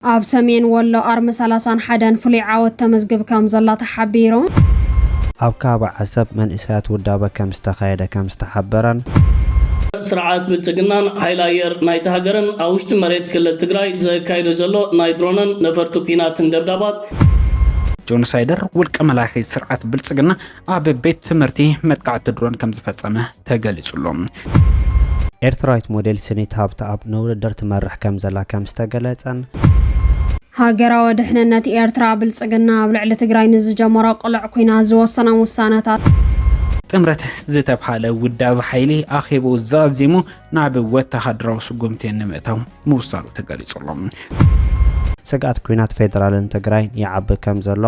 ኣብ ሰሜን ወሎ ኣርሚ ሰላሳን ሓደን ፍሉይ ዓወት ተመዝግብ ከም ዘላ ተሓቢሩ። ኣብ ከባቢ ዓሰብ መንእሰያት ውዳበ ከም ዝተኻየደ ከም ዝተሓበረን። ስርዓት ብልፅግናን ሓይሊ ኣየር ናይታ ሃገርን ኣብ ውሽጢ መሬት ክልል ትግራይ ዘካይዶ ዘሎ ናይ ድሮንን ነፈርቲ ኲናትን ደብዳባት፣ ጆኖሳይደር ውልቀ መላኺ ስርዓት ብልፅግና ኣብ ቤት ትምህርቲ መጥቃዕቲ ድሮን ከም ዝፈጸመ ተገሊጹ ኣሎ። ኤርትራዊት ሞዴል ስኒት ሃብተኣብ ንውድድር ትመርሕ ከም ዘላ ከም ዝተገለጸን ሃገራዊ ድሕንነት ኤርትራ ብልጽግና ኣብ ልዕሊ ትግራይ ንዝጀመሮ ቅሉዕ ኩናት ዝወሰኖም ውሳነታት ጥምረት ዝተብሃለ ውዳብ ሓይሊ ኣኼብኡ ዛዚሙ ናብ ወተሃደራዊ ስጉምቲ ንምእታው ምውሳኑ ተገሊጹ ኣሎ። ስግኣት ኲናት ፌደራልን ትግራይን ይዓቢ ከም ዘሎ።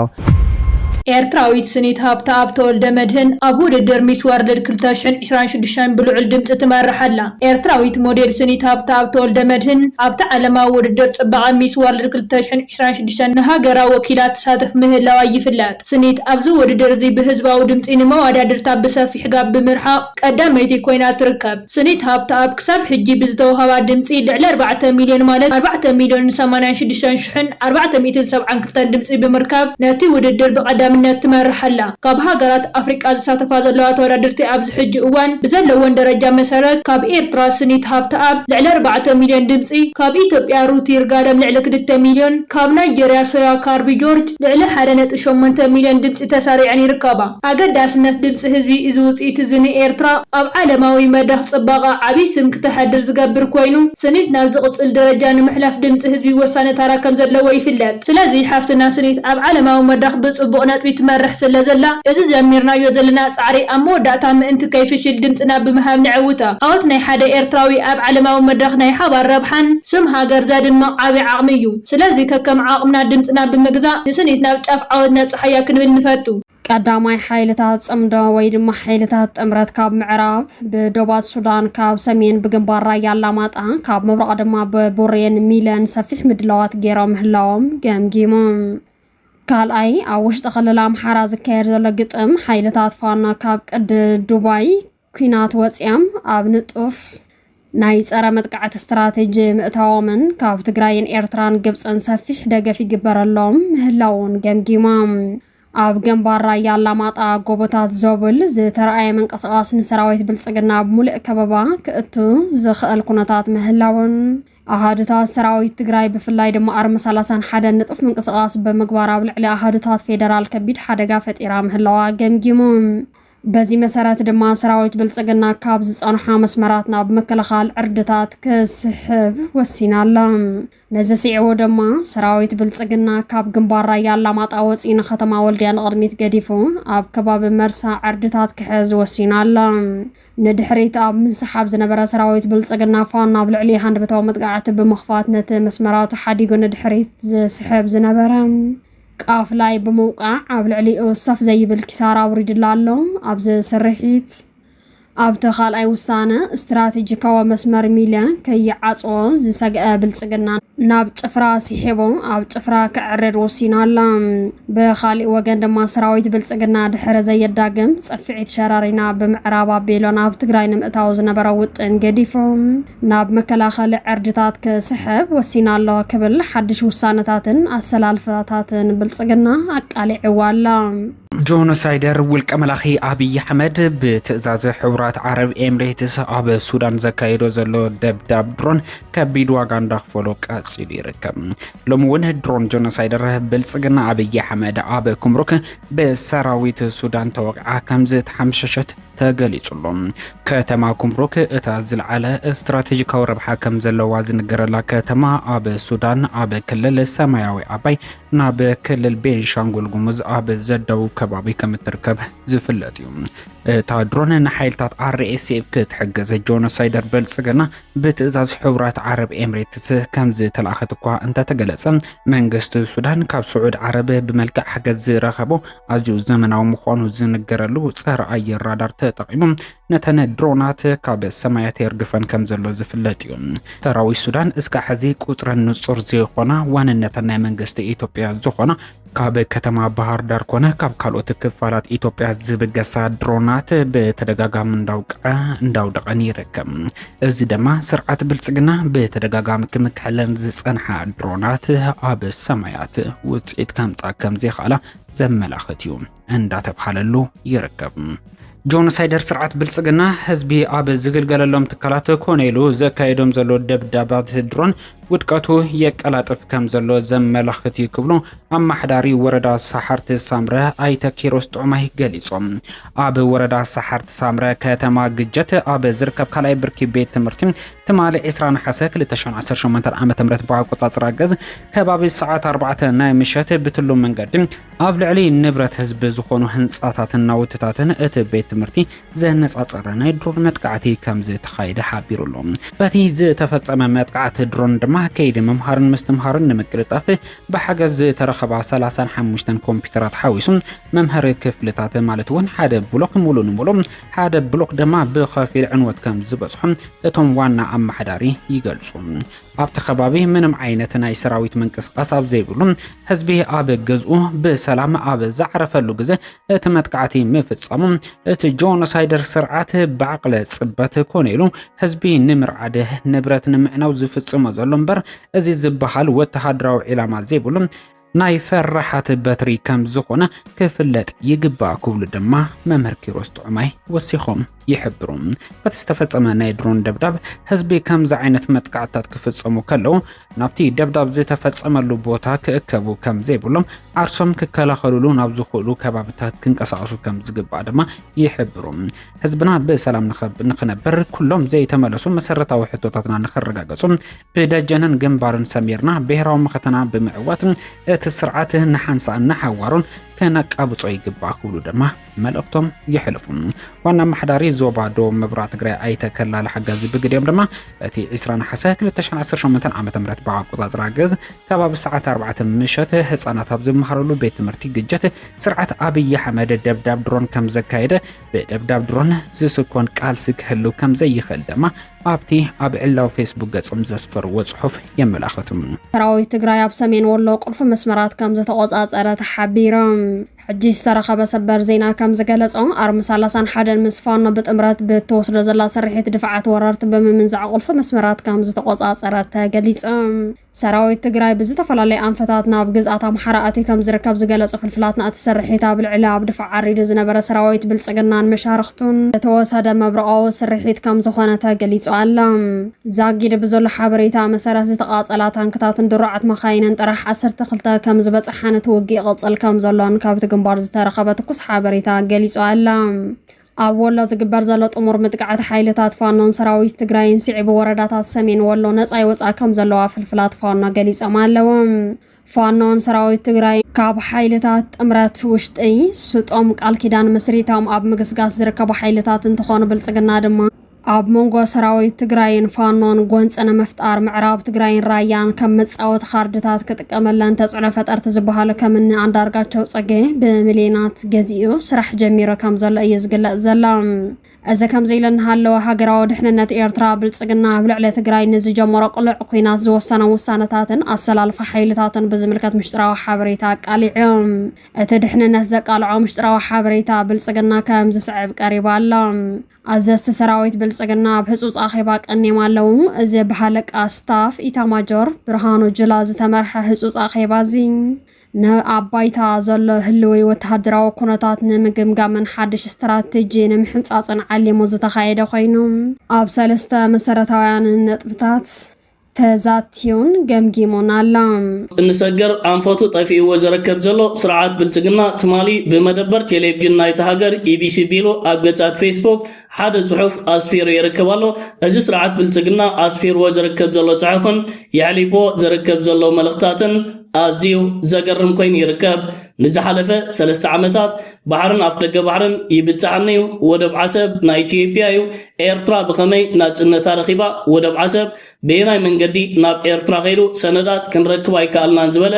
ኤርትራዊት ስኒት ሃብተኣብ ተወልደመድህን ኣብ ውድድር ሚስ ወርልድ ክልተ ሽሕን ዕስራን ሽዱሽተን ብልዑል ድምጺ ትመርሕ ኣላ። ኤርትራዊት ሞዴል ስኒት ሃብተኣብ ተወልደመድህን ኣብቲ ዓለማዊ ውድድር ጽባቐ ሚስ ወርልድ ክልተ ሽሕን ዕስራን ሽዱሽተን ንሃገራ ወኪላ ትሳተፍ ምህላዋ ይፍለጥ። ስኒት ኣብዚ ውድድር'ዚ ብህዝባዊ ድምጺ ንመዋዳድርታ ብሰፊሕ ጋብ ብምርሓቕ ቀዳመይቲ ኮይና ትርከብ። ስኒት ሃብተኣብ ክሳብ ሕጂ ብዝተወሃባ ድምጺ ልዕሊ ኣርባዕተ ሚልዮን ማለት ኣርባዕተ ሚልዮንን ሰማንያን ሽዱሽተን ሽሕን ኣርባዕተ ሚእትን ሰብዓን ክልተን ድምጺ ብምርካብ ነቲ ውድድር ብቐዳምነት ትመርሕ ኣላ። ካብ ሃገራት ኣፍሪቃ ዝሳተፋ ዘለዋ ተወዳደርቲ ኣብዚ ሕጂ እዋን ብዘለወን ደረጃ መሰረት ካብ ኤርትራ ስኒት ሃብተኣብ ልዕሊ ኣርባዕተ ሚልዮን ድምጺ፣ ካብ ኢትዮጵያ ሩት ይርጋለም ልዕሊ ክልተ ሚልዮን፣ ካብ ናይጀርያ ሶያ ካርቢ ጆርጅ ልዕሊ ሓደ ነጥቢ ሸሞንተ ሚልዮን ድምጺ ተሰሪዐን ይርከባ። ኣገዳስነት ድምጺ ህዝቢ እዚ ውጽኢት እዚ ንኤርትራ ኣብ ዓለማዊ መድረኽ ጽባቐ ዓቢ ስም ክተሐድር ዝገብር ኮይኑ፣ ስኒት ናብ ዝቕጽል ደረጃ ንምሕላፍ ድምጺ ህዝቢ ወሳኒ ታራ ከም ዘለዎ ይፍለጥ። ስለዚ ሓፍትና ስኒት ኣብ ዓለማዊ መድረኽ ብጽቡቕ ነጥቢ ትመርሕ ስለ ዘላ፣ እዚ ጀሚርናዮ ዘለና ጻዕሪ ኣብ መወዳእታ ምእንቲ ከይፍሽል ድምጽና ብምሃብ ነዐውታ። ዓወት ናይ ሓደ ኤርትራዊ ኣብ ዓለማዊ መድረኽ ናይ ሓባር ረብሓን ስም ሃገር ዘድምቕ ዓቢ ዓቕሚ እዩ። ስለዚ ከከም ዓቕምና ድምጽና ብምግዛእ ንስኒት ናብ ጫፍ ዓወት ነብጽሓያ ክንብል ንፈቱ። ቀዳማይ ሓይልታት ጽምዶ ወይ ድማ ሓይልታት ጥምረት ካብ ምዕራብ ብዶባት ሱዳን ካብ ሰሜን ብግንባር ራያ ኣላማጣ ካብ ምብራቕ ድማ ብቡሬን ሚለን ሰፊሕ ምድላዋት ገይሮም ምህላዎም ገምጊሙ። ካልኣይ ኣብ ውሽጢ ክልል ኣምሓራ ዝካየድ ዘሎ ግጥም ሓይልታት ፋኖ ካብ ቅዲ ዱባይ ኲናት ወፂኣም ኣብ ንጡፍ ናይ ፀረ መጥቃዕቲ ስትራቴጂ ምእታዎምን ካብ ትግራይን ኤርትራን ግብፅን ሰፊሕ ደገፍ ይግበረሎም ምህላውን ገምጊሞም። ኣብ ገንባር ራያ ኣላማጣ ጎቦታት ዞብል ዝተረኣየ ምንቅስቓስ ንሰራዊት ብልጽግና ኣብ ሙሉእ ከበባ ክእቱ ዝኽእል ኩነታት ምህላውን ኣሃዱታት ሰራዊት ትግራይ ብፍላይ ድማ ኣርሚ 31 ንጡፍ ምንቅስቓስ ብምግባር ኣብ ልዕሊ ኣሃዱታት ፌደራል ከቢድ ሓደጋ ፈጢራ ምህላዋ ገምጊሙ። በዚ መሰረት ድማ ሰራዊት ብልፅግና ካብ ዝፀንሖ መስመራት ናብ ምክልኻል ዕርድታት ክስሕብ ወሲና ኣላ። ነዚ ስዒቡ ድማ ሰራዊት ብልፅግና ካብ ግንባር ራያ ኣላማጣ ወፂኢ ንከተማ ወልድያ ንቕድሚት ገዲፉ ኣብ ከባቢ መርሳ ዕርድታት ክሕዝ ወሲኑ ኣላ። ንድሕሪት ኣብ ምስሓብ ዝነበረ ሰራዊት ብልፅግና ፋኖ ኣብ ልዕሊ ሃንደበታዊ መጥቃዕቲ ብምኽፋት ነቲ መስመራቱ ሓዲጉ ንድሕሪት ዝስሕብ ዝነበረ ቃፍላይ ብምውቃዕ ኣብ ልዕሊኡ ሰፍ ዘይብል ኪሳራ ኣውሪድላ ኣሎ። ኣብዚ ስርሒት ኣብቲ ካልኣይ ውሳነ ስትራቴጂካዊ መስመር ሚለ ከይዓጽዎ ዝሰግአ ብልጽግና ናብ ጭፍራ ሲሒቡ ኣብ ጭፍራ ክዕርድ ወሲና ኣላ። ብኻሊእ ወገን ድማ ሰራዊት ብልጽግና ድሕሪ ዘየዳግም ጽፍዒት ሸረሪና ብምዕራብ ኣቢሉ ናብ ትግራይ ንምእታው ዝነበሮ ውጥን ገዲፉ ናብ መከላኸሊ ዕርድታት ክስሕብ ወሲና ኣሎ ክብል ሓድሽ ውሳነታትን ኣሰላልፋታትን ብልጽግና ኣቃሊዕዋ ኣሎ። ጆኖሳይደር ውልቀ መላኺ ኣብይ ኣሕመድ ብትእዛዝ ሕቡራት ዓረብ ኤምሬትስ ኣብ ሱዳን ዘካየዶ ዘሎ ደብዳብ ድሮን ከቢድ ዋጋ እንዳኽፈሎ ቀፂሉ ይርከብ። ሎሚ እውን ድሮን ጆኖሳይደር ብልፅግና ኣብይ ኣሕመድ ኣብ ኩምሩክ ብሰራዊት ሱዳን ተወቂዓ ከምዝተሓምሸሸት ተገሊጹ'ሎ። ከተማ ኩምሩክ እታ ዝልዓለ ስትራቴጂካዊ ረብሓ ከም ዘለዋ ዝንገረላ ከተማ ኣብ ሱዳን ኣብ ክልል ሰማያዊ ኣባይ ናብ ክልል ቤንሻንጉል ጉሙዝ ኣብ ዘዳውብ ከባቢ ከም እትርከብ ዝፍለጥ እዩ። እታ ድሮን ንሓይልታት RSF ክትሕግዝ ጆኖሳይደር ብልጽግና ብትእዛዝ ሕቡራት ዓረብ ኤምሬትስ ከም ዝተላእኸት እኳ እንተተገለጸ መንግስቲ ሱዳን ካብ ስዑድ ዓረብ ብመልክዕ ሓገዝ ዝረኸቦ ኣዝዩ ዘመናዊ ምዃኑ ዝንገረሉ ጸረ ኣየር ራዳር ተጠቒሙ ነተን ድሮናት ካብ ሰማያት የርግፈን ከም ዘሎ ዝፍለጥ እዩ። ሰራዊት ሱዳን እስከ ሕዚ ቁጽረን ንጹር ዘይኮና ዋንነተን ናይ መንግስቲ ኢትዮጵያ ዝኾና ካብ ከተማ ባህር ዳር ኮነ ካብ ካልኦት ክፋላት ኢትዮጵያ ዝብገሳ ድሮናት ብተደጋጋሚ እንዳውቀዐ እንዳውደቐን ይርከብ። እዚ ደማ ስርዓት ብልጽግና ብተደጋጋሚ ክምክሐለን ዝጸንሓ ድሮናት ኣብ ሰማያት ውጽኢት ከምጻ ከምዘይኸኣላ ዘመላኽት እዩ እንዳተብሃለሉ ይርከብ። ጆኖሳይደር ስርዓት ብልጽግና ህዝቢ ኣብ ዝግልገለሎም ትካላት ኮነ ኢሉ ዘካየዶም ዘሎ ደብዳባት ድሮን ውድቀቱ የቀላጥፍ ከም ዘሎ ዘመላኽት እዩ ክብሉ ኣማሓዳሪ ወረዳ ሳሓርቲ ሳምረ ኣይተ ኪሮስ ጥዑማይ ገሊፆም። ኣብ ወረዳ ሳሓርቲ ሳምረ ከተማ ግጀት ኣብ ዝርከብ ካልኣይ ብርኪ ቤት ትምህርቲ ትማሊ 20 ነሓሰ 2018 ዓ ም ብኣቆፃፅራ ገዝ ከባቢ ሰዓት 4 ናይ ምሸት ብትሉ መንገዲ ኣብ ልዕሊ ንብረት ህዝቢ ዝኾኑ ህንፃታትን ናውትታትን እቲ ቤት ትምህርቲ ዘነጻጸረ ናይ ድሮን መጥቃዕቲ ከም ዝተኻየደ ሓቢሩ ኣሎ። በቲ ዝተፈጸመ መጥቃዕቲ ድሮን ድማ ከይዲ ምምሃርን ምስትምሃርን ንምቅልጣፍ ብሓገዝ ዝተረኸባ 35 ኮምፒውተራት ሓዊሱ መምሃሪ ክፍልታት ማለት እውን ሓደ ብሎክ ሙሉ ንሙሉ ሓደ ብሎክ ድማ ብኸፊል ዕንወት ከም ዝበጽሖ እቶም ዋና ኣመሓዳሪ ይገልጹ። ኣብቲ ከባቢ ምንም ዓይነት ናይ ሰራዊት ምንቅስቓስ ኣብ ዘይብሉ ህዝቢ ኣብ ገዝኡ ብሰላም ኣብ ዝዓረፈሉ ግዜ እቲ መጥቃዕቲ ምፍጸሙ እቲ ጆኖሳይደር ስርዓት ብዓቕለ ጽበት ኮነ ኢሉ ህዝቢ ንምርዓድ ንብረት ንምዕናው ዝፍጽሞ ዘሎ እምበር እዚ ዝበሃል ወተሃደራዊ ዒላማ ዘይብሉ ናይ ፈራሓት በትሪ ከም ዝኾነ ክፍለጥ ይግባእ ክብሉ ድማ መምህር ኪሮስ ጥዑማይ ወሲኾም ይሕብሩ። በቲ ዝተፈጸመ ናይ ድሮን ደብዳብ ህዝቢ ከምዚ ዓይነት መጥቃዕትታት ክፍጸሙ ከለዉ ናብቲ ደብዳብ ዝተፈጸመሉ ቦታ ክእከቡ ከም ዘይብሎም ዓርሶም ክከላኸሉሉ ናብ ዝኽእሉ ከባብታት ክንቀሳቐሱ ከም ዝግባእ ድማ ይሕብሩ። ህዝብና ብሰላም ንኽነብር ኩሎም ዘይተመለሱ መሰረታዊ ሕቶታትና ንኽረጋገጹ ብደጀንን ግንባርን ሰሚርና ብሔራዊ መኸተና ብምዕዋት እቲ ስርዓት ንሓንሳእን ንሓዋሩን ከነቃብጾ ይግባእ ክብሉ ድማ መልእኽቶም የሕልፉ። ዋና ኣመሓዳሪ ዞባ ዶ ምብራቕ ትግራይ ኣይተ ከላለ ሓጋዚ ብግዲኦም ድማ እቲ 20 ነሓሰ 2018 ዓ ም ብኣቆፃፅራ ግዝ ከባቢ ሰዓት 4 ምሸት ህፃናት ኣብ ዝመሃረሉ ቤት ትምህርቲ ግጀት ስርዓት ኣብይ ኣሕመድ ደብዳብ ድሮን ከም ዘካየደ ብደብዳብ ድሮን ዝስኮን ቃልሲ ክህሉ ከም ዘይኽእል ድማ ኣብቲ ኣብ ዕላዊ ፌስቡክ ገጾም ዘስፈርዎ ጽሑፍ የመላኽቱ። ሰራዊት ትግራይ ኣብ ሰሜን ወሎ ቁልፊ መስመራት ከም ዝተቆጻጸረ ተሓቢሮም። ሕጂ ዝተረኸበ ሰበር ዜና ከም ዝገለጾ ኣርሚ ሰላሳን ሓደን ምስ ፋኖ ብጥምረት ብትወስዶ ዘላ ስርሒት ድፍዓት ወረርቲ ብምምንዛዕ ቁልፊ መስመራት ከም ዝተቆጻጸረ ተገሊጹ። ሰራዊት ትግራይ ብዝተፈላለየ ኣንፈታት ናብ ግዝኣት ኣምሓራ ኣትዩ ከም ዝርከብ ዝገለጹ ፍልፍላትና እቲ ስርሒት ኣብ ልዕሊ ኣብ ድፋዕ ዓሪዱ ዝነበረ ሰራዊት ብልጽግናን መሻርኽቱን ዝተወሰደ መብረቓዊ ስርሒት ከም ዝኾነ ተገሊጹ ኣሎ። ዛጊድ ብዘሎ ሓበሬታ መሰረት ዝተቓፀላ ታንክታትን ድሩዓት መኻይንን ጥራሕ ዓሰርተ ክልተ ከምዝበፅሓን እቲ ውግእ ይቕፅል ከምዘሎን ካብቲ ግንባር ዝተረኸበ ትኩስ ሓበሬታ ገሊፁ ኣላ። ኣብ ወሎ ዝግበር ዘሎ ጥሙር ምጥቃዕት ሓይልታት ፋኖን ሰራዊት ትግራይን ስዒቡ ወረዳታት ሰሜን ወሎ ነፃ ይወፅኣ ከምዘለዋ ፍልፍላት ፋኖ ገሊፆም ኣለዉ። ፋኖን ሰራዊት ትግራይን ካብ ሓይልታት ጥምረት ውሽጢ ስጦም ቃል ኪዳን መስሪቶም ኣብ ምግስጋስ ዝርከቡ ሓይልታት እንትኾኑ ብልፅግና ድማ ኣብ መንጎ ሰራዊት ትግራይን ፋኖን ጎንፂ ንምፍጣር ምዕራብ ትግራይን ራያን ከም መፃወቲ ካርድታት ክጥቀመለን ተፅዕኖ ፈጠርቲ ዝበሃሉ ከምኒ ኣንዳርጋቸው ፅጌ ብሚሊዮናት ገዚኡ ስራሕ ጀሚሩ ከምዘሎ እዩ ዝግለፅ ዘሎ። እዚ ከምዚ ኢሉ እናሃለወ ሃገራዊ ድሕንነት ኤርትራ፣ ብልጽግና ኣብ ልዕሊ ትግራይ ንዝጀመሮ ቅሉዕ ኲናት ዝወሰኖም ውሳነታትን ኣሰላልፋ ሓይልታቱን ብዝምልከት ምሽጥራዊ ሓበሬታ ኣቃሊዑ። እቲ ድሕንነት ዘቃልዖ ምሽጥራዊ ሓበሬታ ብልጽግና ከም ዝስዕብ ቀሪቡ ኣሎ። ኣዘዝቲ ሰራዊት ብልጽግና ኣብ ህጹጽ ኣኼባ ቀንዮም ኣለዉ። እዚ ብሃለቃ ስታፍ ኢታማጆር ብርሃኑ ጁላ ዝተመርሐ ህጹጽ ኣኼባ እዚ፣ ንኣብ ባይታ ዘሎ ህልዊ ወተሃደራዊ ኩነታት ንምግምጋምን ሓድሽ ስትራቴጂ ንምሕንጻጽን ዓሊሙ ዝተኻየደ ኮይኑ፣ ኣብ ሰለስተ መሰረታውያን ነጥብታት ተዛትዩን ገምጊሙን ኣሎ። እንሰገር ኣንፈቱ ጠፊእዎ ዘረከብ ዘሎ ስርዓት ብልጽግና ትማሊ ብመደበር ቴሌቭዥን ናይታ ሃገር ኢቢሲ ቢሉ ኣብ ገጻት ፌስቡክ ሓደ ጽሑፍ ኣስፊሩ ይርከብ ኣሎ። እዚ ስርዓት ብልጽግና ኣስፊርዎ ዝርከብ ዘሎ ጽሑፍን የሕሊፎ ዝርከብ ዘሎ መልእኽታትን ኣዝዩ ዘገርም ኮይኑ ይርከብ። ንዝሓለፈ ሰለስተ ዓመታት ባሕርን ኣፍደገ ባሕርን ይብጻሓኒ'ዩ፣ ወደብ ዓሰብ ናይ ኢትዮጵያ'ዩ፣ ኤርትራ ብኸመይ ናጽነታ ረኺባ፣ ወደብ ዓሰብ በየናይ መንገዲ ናብ ኤርትራ ከይዱ ሰነዳት ክንረክብ ኣይከኣልናን ዝበለ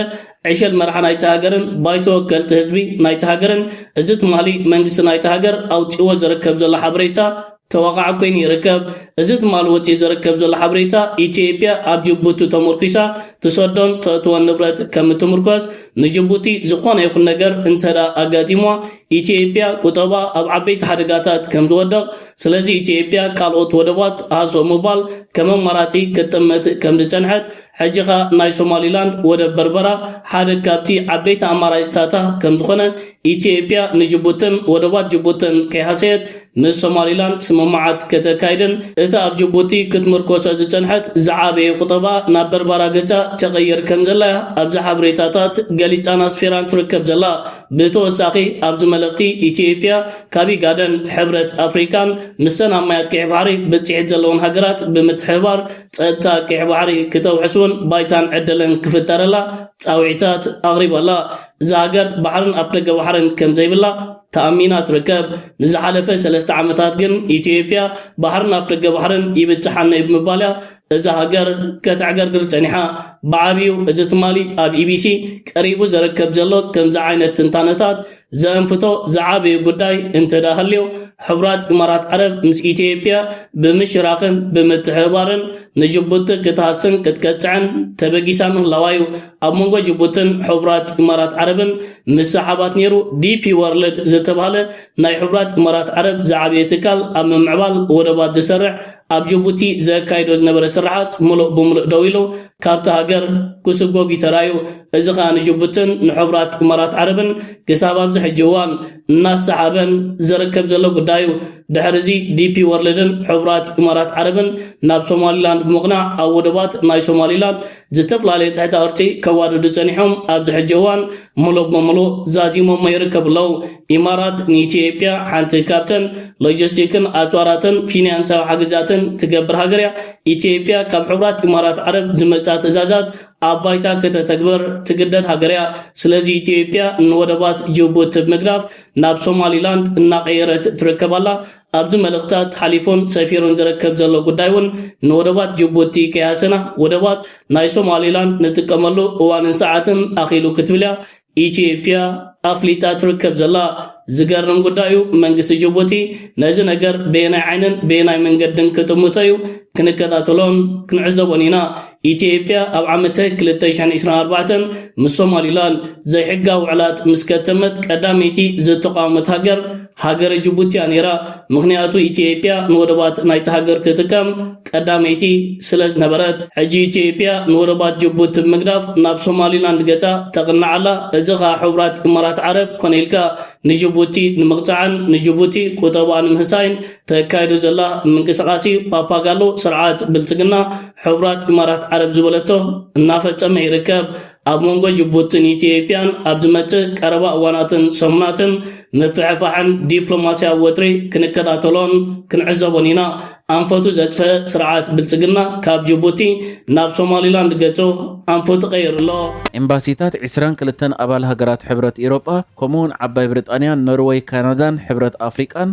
ዕሸል መራሒ ናይታ ሃገርን ባይቶ ወከልቲ ህዝቢ ናይታ ሃገርን እዚ ትማሊ መንግስቲ ናይታ ሃገር ኣውጺእዎ ዝርከብ ዘሎ ሓበሬታ ተወቓዕ ኮይኑ ይርከብ። እዚ ትማሊ ወጺኡ ዝርከብ ዘሎ ሓበሬታ ኢትዮጵያ ኣብ ጅቡቲ ተሞርኲሳ ትሰዶን ተእትዎን ንብረት ከም እትምርኮስ ንጅቡቲ ዝኾነ ይኹን ነገር እንተድኣ ኣጋጢምዋ ኢትዮጵያ ቁጠባ ኣብ ዓበይቲ ሓደጋታት ከም ዝወደቕ፣ ስለዚ ኢትዮጵያ ካልኦት ወደባት ሃሰው ምባል ከም ኣማራጺ ክትጥምት ከም ዝጸንሐት፣ ሕጂ ከኣ ናይ ሶማሊላንድ ወደብ በርበራ ሓደ ካብቲ ዓበይቲ ኣማራጺታታ ከም ዝኾነ፣ ኢትዮጵያ ንጅቡትን ወደባት ጅቡትን ከይሃሰየት ምስ ሶማሊላንድ ስምምዓት ከተካይድን እታ ኣብ ጅቡቲ ክትምርኮሰ ዝጸንሐት ዝዓበየ ቁጠባ ናብ በርበራ ገጻ ተቐይር ከም ዘላ'ያ ኣብዛ ሓበሬታታት ገሊጻን ኣስፊራን ትርከብ ዘላ። ብተወሳኺ ኣብዚ መልእኽቲ ኢትዮጵያ ካብ ኢጋድን ሕብረት ኣፍሪካን ምስተን ኣብ ማያት ቀይሕ ባሕሪ ብፅሒት ዘለወን ሃገራት ብምትሕብባር ፀጥታ ቀይሕ ባሕሪ ክተውሕስውን ባይታን ዕድልን ክፍጠረላ ፃውዒታት ኣቕሪባላ። እዛ ሃገር ባሕርን ኣፍደገ ባሕርን ከምዘይብላ ተኣሚና ትርከብ። ንዝሓለፈ ሰለስተ ዓመታት ግን ኢትዮጵያ ባሕርን ኣፍደገ ባሕርን ይብፅሓኒ ብምባል እያ እዛ ሃገር ከተዕገርግር ጸኒሓ ብዓብዩ እዚ ትማሊ ኣብ ኢቢሲ ቀሪቡ ዘረከብ ዘሎ ከምዚ ዓይነት ትንታነታት ዘእንፍቶ ዝዓበየ ጉዳይ እንተዳ ሃልዮ ሕቡራት ኢማራት ዓረብ ምስ ኢትዮጵያ ብምሽራኽን ብምትሕብባርን ንጅቡቲ ክትሃስን ክትቀጽዕን ተበጊሳ ምህላዋ እዩ ኣብ መንጎ ጅቡትን ሕቡራት ኢማራት ዓረብን ምሰሓባት ነይሩ ዲፒ ወርልድ ዝተባህለ ናይ ሕቡራት ኢማራት ዓረብ ዝዓበየ ትካል ኣብ ምምዕባል ወደባት ዝሰርሕ ኣብ ጅቡቲ ዘካይዶ ዝነበረ ስርሓት ምሉእ ብምሉእ ደው ኢሉ ካብታ ሃገር ክስጎግ እዩ ተራእዩ። እዚ ከኣ ንጅቡትን ንሕቡራት ኢማራት ዓረብን ክሳብ ኣብዚ ሕጂ እዋን እናሰሓበን ዝርከብ ዘሎ ጉዳይ እዩ። ድሕሪ እዚ ዲፒ ወርልድን ሕቡራት ኢማራት ዓረብን ናብ ሶማሊላንድ ብምቕናዕ ኣብ ወደባት ናይ ሶማሊላንድ ዝተፈላለየ ትሕተ ቅርጺ ከዋድዱ ጸኒሖም ኣብዚ ሕጂ እዋን ሙሉእ ብሙሉእ ዛዚሞሞ ይርከቡ ኣለዉ። ኢማራት ንኢትዮጵያ ሓንቲ ካብተን ሎጂስቲክን ኣጽዋራትን ፊንያንሳዊ ሓገዛትን ትገብር ሃገር እያ። ኢትዮጵያ ካብ ሕቡራት ኢማራት ዓረብ ዝመጻ ትእዛዛት ኣብ ባይታ ከተተግብር ትግደድ ሃገር እያ። ስለዚ ኢትዮጵያ ንወደባት ጅቡቲ ብምግዳፍ ናብ ሶማሊላንድ እናቐየረት ትርከብ ኣላ። ኣብ'ዚ መልእኽታት ሓሊፉን ሰፊሩን ዝርከብ ዘሎ ጉዳይ'ውን ንወደባት ጅቡቲ ከይሃሰና ወደባት ናይ ሶማሊላንድ ንጥቀመሉ እዋንን ሰዓትን ኣኺሉ ክትብል'ያ ኢትዮጵያ ኣፍሊጣ ትርከብ ዘላ። ዝገርም ጉዳይ'ዩ፣ መንግስቲ ጅቡቲ ነዚ ነገር በየናይ ዓይንን በየናይ መንገድን ክጥምቶ'ዩ? ክንከታተሎን ክንዕዘቦን ኢና። ኢትዮጵያ ኣብ ዓመተ ክልተ ሽሕን ዕስራን ኣርባዕተን ምስ ሶማሊላንድ ዘይሕጋዊ ውዕላት ምስ ከተመት ቀዳመይቲ ዝተቋወመት ሃገር ሃገረ ጅቡቲ እያ ነይራ። ምኽንያቱ ኢትዮጵያ ንወደባት ናይቲ ሃገር ትጥቀም ቀዳመይቲ ስለ ዝነበረት። ሕጂ ኢትዮጵያ ንወደባት ጅቡቲ ብምግዳፍ ናብ ሶማሊላንድ ገጻ ተቕንዕ ኣላ። እዚ ከኣ ሕቡራት ኢማራት ዓረብ ኮነ ኢልካ ንጅቡቲ ንምቕጻዕን ንጅቡቲ ቁጠባኣ ንምህሳይን ተካይዶ ዘላ ምንቅስቓስ እዩ። ፓፓጋሎ ስርዓት ብልጽግና ሕቡራት ኢማራት ዓረብ ዝበለቶ እናፈጸመ ይርከብ። ኣብ መንጎ ጅቡትን ኢትዮጵያን ኣብ ዝመጽእ ቀረባ እዋናትን ሰሙናትን ምፍሕፋሕን ዲፕሎማስያዊ ወጥሪ ክንከታተሎን ክንዕዘቦን ኢና። ኣንፈቱ ዘጥፈ ስርዓት ብልጽግና ካብ ጅቡቲ ናብ ሶማሊላንድ ገጹ ኣንፈቱ ቀይሩ ኣሎ። ኤምባሲታት ዕስራን ክልተን ኣባል ሃገራት ሕብረት ኢሮጳ ከምኡ'ውን ዓባይ ብሪጣንያ፣ ኖርወይ፣ ካናዳን ሕብረት ኣፍሪቃን፣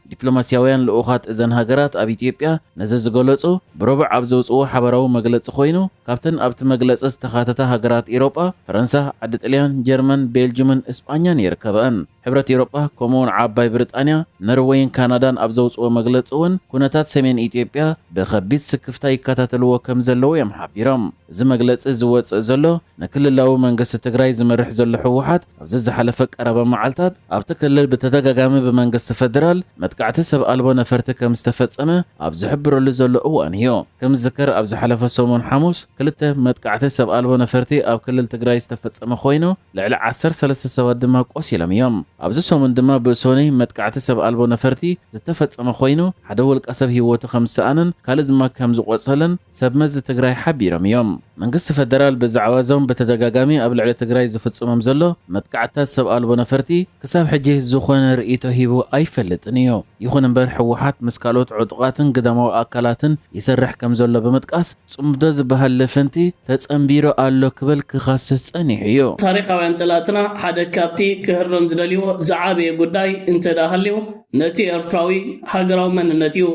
ዲፕሎማስያውያን ልኡኻት እዘን ሃገራት ኣብ ኢትዮጵያ ነዚ ዝገለጹ ብሮብዕ ኣብ ዘውጽዎ ሓበራዊ መግለጺ ኮይኑ ካብተን ኣብቲ መግለጺ ዝተኻተታ ሃገራት ኢሮጳ ፈረንሳ፣ ዓዲ ጥልያን፣ ጀርመን፣ ቤልጁምን እስጳኛን ይርከበኣን። ሕብረት ኢሮጳ ከምኡ'ውን ዓባይ ብሪጣንያ፣ ነርወይን ካናዳን ኣብ ዘውጽዎ መግለጺ እውን ኩነታት ሰሜን ኢትዮጵያ ብኸቢድ ስክፍታ ይከታተልዎ ከም ዘለዉ እዮም ሓቢሮም። እዚ መግለጺ ዝወጽእ ዘሎ ንክልላዊ መንግስቲ ትግራይ ዝመርሕ ዘሎ ህወሓት፣ ኣብዚ ዝሓለፈ ቀረባ መዓልታት ኣብቲ ክልል ብተደጋጋሚ ብመንግስቲ ፈደራል መጥቃዕቲ ሰብ ኣልቦ ነፈርቲ ከም ዝተፈጸመ ኣብ ዝሕብረሉ ዘሎ እዋን እዩ። ከም ዝዝከር ኣብ ዝሓለፈ ሰሙን ሓሙስ ክልተ መጥቃዕቲ ሰብ ኣልቦ ነፈርቲ ኣብ ክልል ትግራይ ዝተፈጸመ ኮይኑ ልዕሊ ዓሰርተ ሰለስተ ሰባት ድማ ቆሲሎም እዮም። ኣብዚ ሰሙን ድማ ብእሶኒ መጥቃዕቲ ሰብ ኣልቦ ነፈርቲ ዝተፈጸመ ኮይኑ ሓደ ውልቀ ሰብ ህይወቱ ከም ዝሰኣነን ካልእ ድማ ከም ዝቖጸለን ሰብ መዚ ትግራይ ሓቢሮም እዮም። መንግስቲ ፈደራል ብዛዕባ እዞም ብተደጋጋሚ ኣብ ልዕሊ ትግራይ ዝፍፅሞም ዘሎ መጥቃዕትታት ሰብ ኣልቦ ነፈርቲ ክሳብ ሕጂ ዝኾነ ርእይቶ ሂቡ ኣይፈልጥን እዩ። ይኹን እምበር ህወሓት ምስ ካልኦት ዕጡቓትን ግዳማዊ ኣካላትን ይሰርሕ ከም ዘሎ ብምጥቃስ ፅምዶ ዝበሃል ልፍንቲ ተፀምቢሩ ኣሎ ክብል ክኸስስ ፀኒሑ እዩ። ታሪኻውያን ፀላእትና ሓደ ካብቲ ክህረም ዝደልይዎ ዝዓበየ ጉዳይ እንተድኣ ሃልዩ ነቲ ኤርትራዊ ሃገራዊ መንነት እዩ።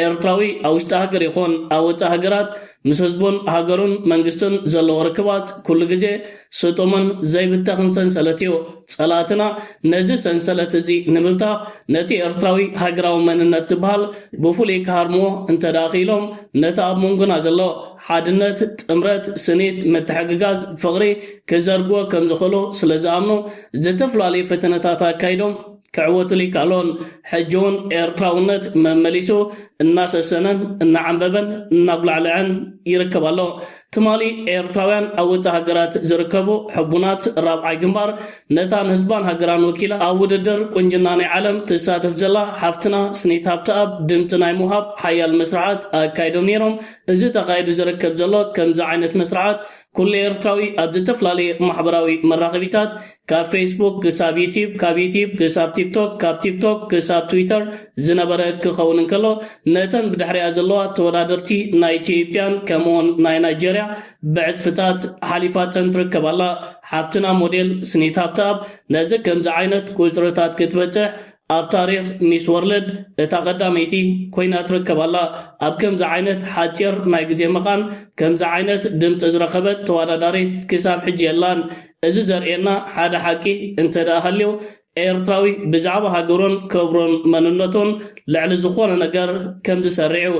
ኤርትራዊ ኣብ ውሽጢ ሃገር ይኹን ኣብ ወጻኢ ሃገራት ምስ ህዝቡን ሃገሩን መንግስቱን ዘለዎ ርክባት ኩሉ ግዜ ስጡምን ዘይብተኽን ሰንሰለት እዩ። ጸላእትና ነዚ ሰንሰለት እዚ ንምብታኽ ነቲ ኤርትራዊ ሃገራዊ መንነት ዝበሃል ብፍሉይ ክሃርምዎ እንተድኣ ክኢሎም ነቲ ኣብ መንጎና ዘሎ ሓድነት፣ ጥምረት፣ ስኒት፣ ምትሕግጋዝ፣ ፍቕሪ ክዘርግዎ ከምዝኽእሉ ስለዝኣምኑ ዝተፈላለዩ ፈተነታት ኣካይዶም። ክዕወቱሉ ይከኣሉን ሕጂውን ኤርትራውነት መመሊሱ እናሰሰነን እናዓምበበን እናጉላዕልዐን ይርከብ ኣሎ። ትማሊ ኤርትራውያን ኣብ ውጻእ ሃገራት ዝርከቡ ሕቡናት ራብዓይ ግንባር ነታ ንህዝባን ሃገራን ወኪላ ኣብ ውድድር ቁንጅና ናይ ዓለም ትሳተፍ ዘላ ሓፍትና ስኒት ሃብተኣብ ድምጺ ናይ ምውሃብ ሓያል መስርዓት ኣካይዶም ነይሮም። እዚ ተኻይዱ ዝርከብ ዘሎ ከምዚ ዓይነት መስርዓት ኩሉ ኤርትራዊ ኣብ ዝተፍላለየ ማሕበራዊ መራኸቢታት ካብ ፌስቡክ ክሳብ ዩትዩብ፣ ካብ ዩትዩብ ክሳብ ቲክቶክ፣ ካብ ቲክቶክ ክሳብ ትዊተር ዝነበረ ክኸውን እንከሎ፣ ነተን ብድሕሪኣ ዘለዋ ተወዳደርቲ ናይ ኢትዮጵያን ከምኡ'ውን ናይ ናይጀርያ ብዕጽፍታት ሓሊፋተን ትርከብ ኣላ። ሓፍትና ሞዴል ስኒት ሃብተኣብ ነዚ ከምዚ ዓይነት ቁጽርታት ክትበጽሕ ኣብ ታሪኽ ሚስ ወርልድ እታ ቀዳመይቲ ኮይና ትርከብ ኣላ። ኣብ ከምዚ ዓይነት ሓጺር ናይ ግዜ መቓን ከምዚ ዓይነት ድምጺ ዝረኸበት ተወዳዳሪት ክሳብ ሕጂ የላን። እዚ ዘርእየና ሓደ ሓቂ እንተድኣ ሃልዩ ኤርትራዊ ብዛዕባ ሃገሩን ክብሩን መንነቱን ልዕሊ ዝኾነ ነገር ከምዝሰርዕ'ዩ።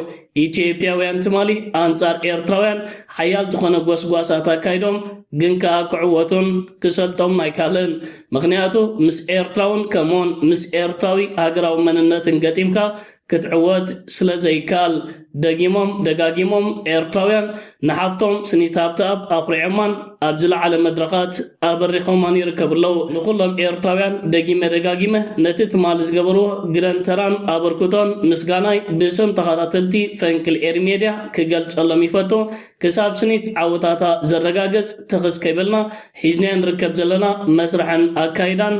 ኢትዮጵያውያን ትማሊ ኣንጻር ኤርትራውያን ሓያል ዝኾነ ጎስጓሳት ኣካይዶም ግን ከኣ ክዕወቱን ክሰልጦምን ኣይካልን ምኽንያቱ ምስ ኤርትራውን ከምኡውን ምስ ኤርትራዊ ሃገራዊ መንነትን ገጢምካ ክትዕወት ስለዘይካል ደጊሞም ደጋጊሞም ኤርትራውያን ንሓፍቶም ስኒት ሃብተኣብ ኣኹሪዖማን ኣብ ዝለዓለ መድረኻት ኣበሪኾማን ይርከቡ ኣለዉ። ንኹሎም ኤርትራውያን ደጊመ ደጋጊመ ነቲ ትማሊ ዝገበርዎ ግደን ተራን ኣበርክቶን ምስጋናይ ብስም ተኻታተልቲ ፈንቅል ኤሪ ሜድያ ክገልጸሎም ይፈቱ። ክሳብ ስኒት ዓወታታ ዘረጋግጽ ትኽስ ከይበልና ሒዝናዮ ንርከብ ዘለና መስርሕን ኣካይዳን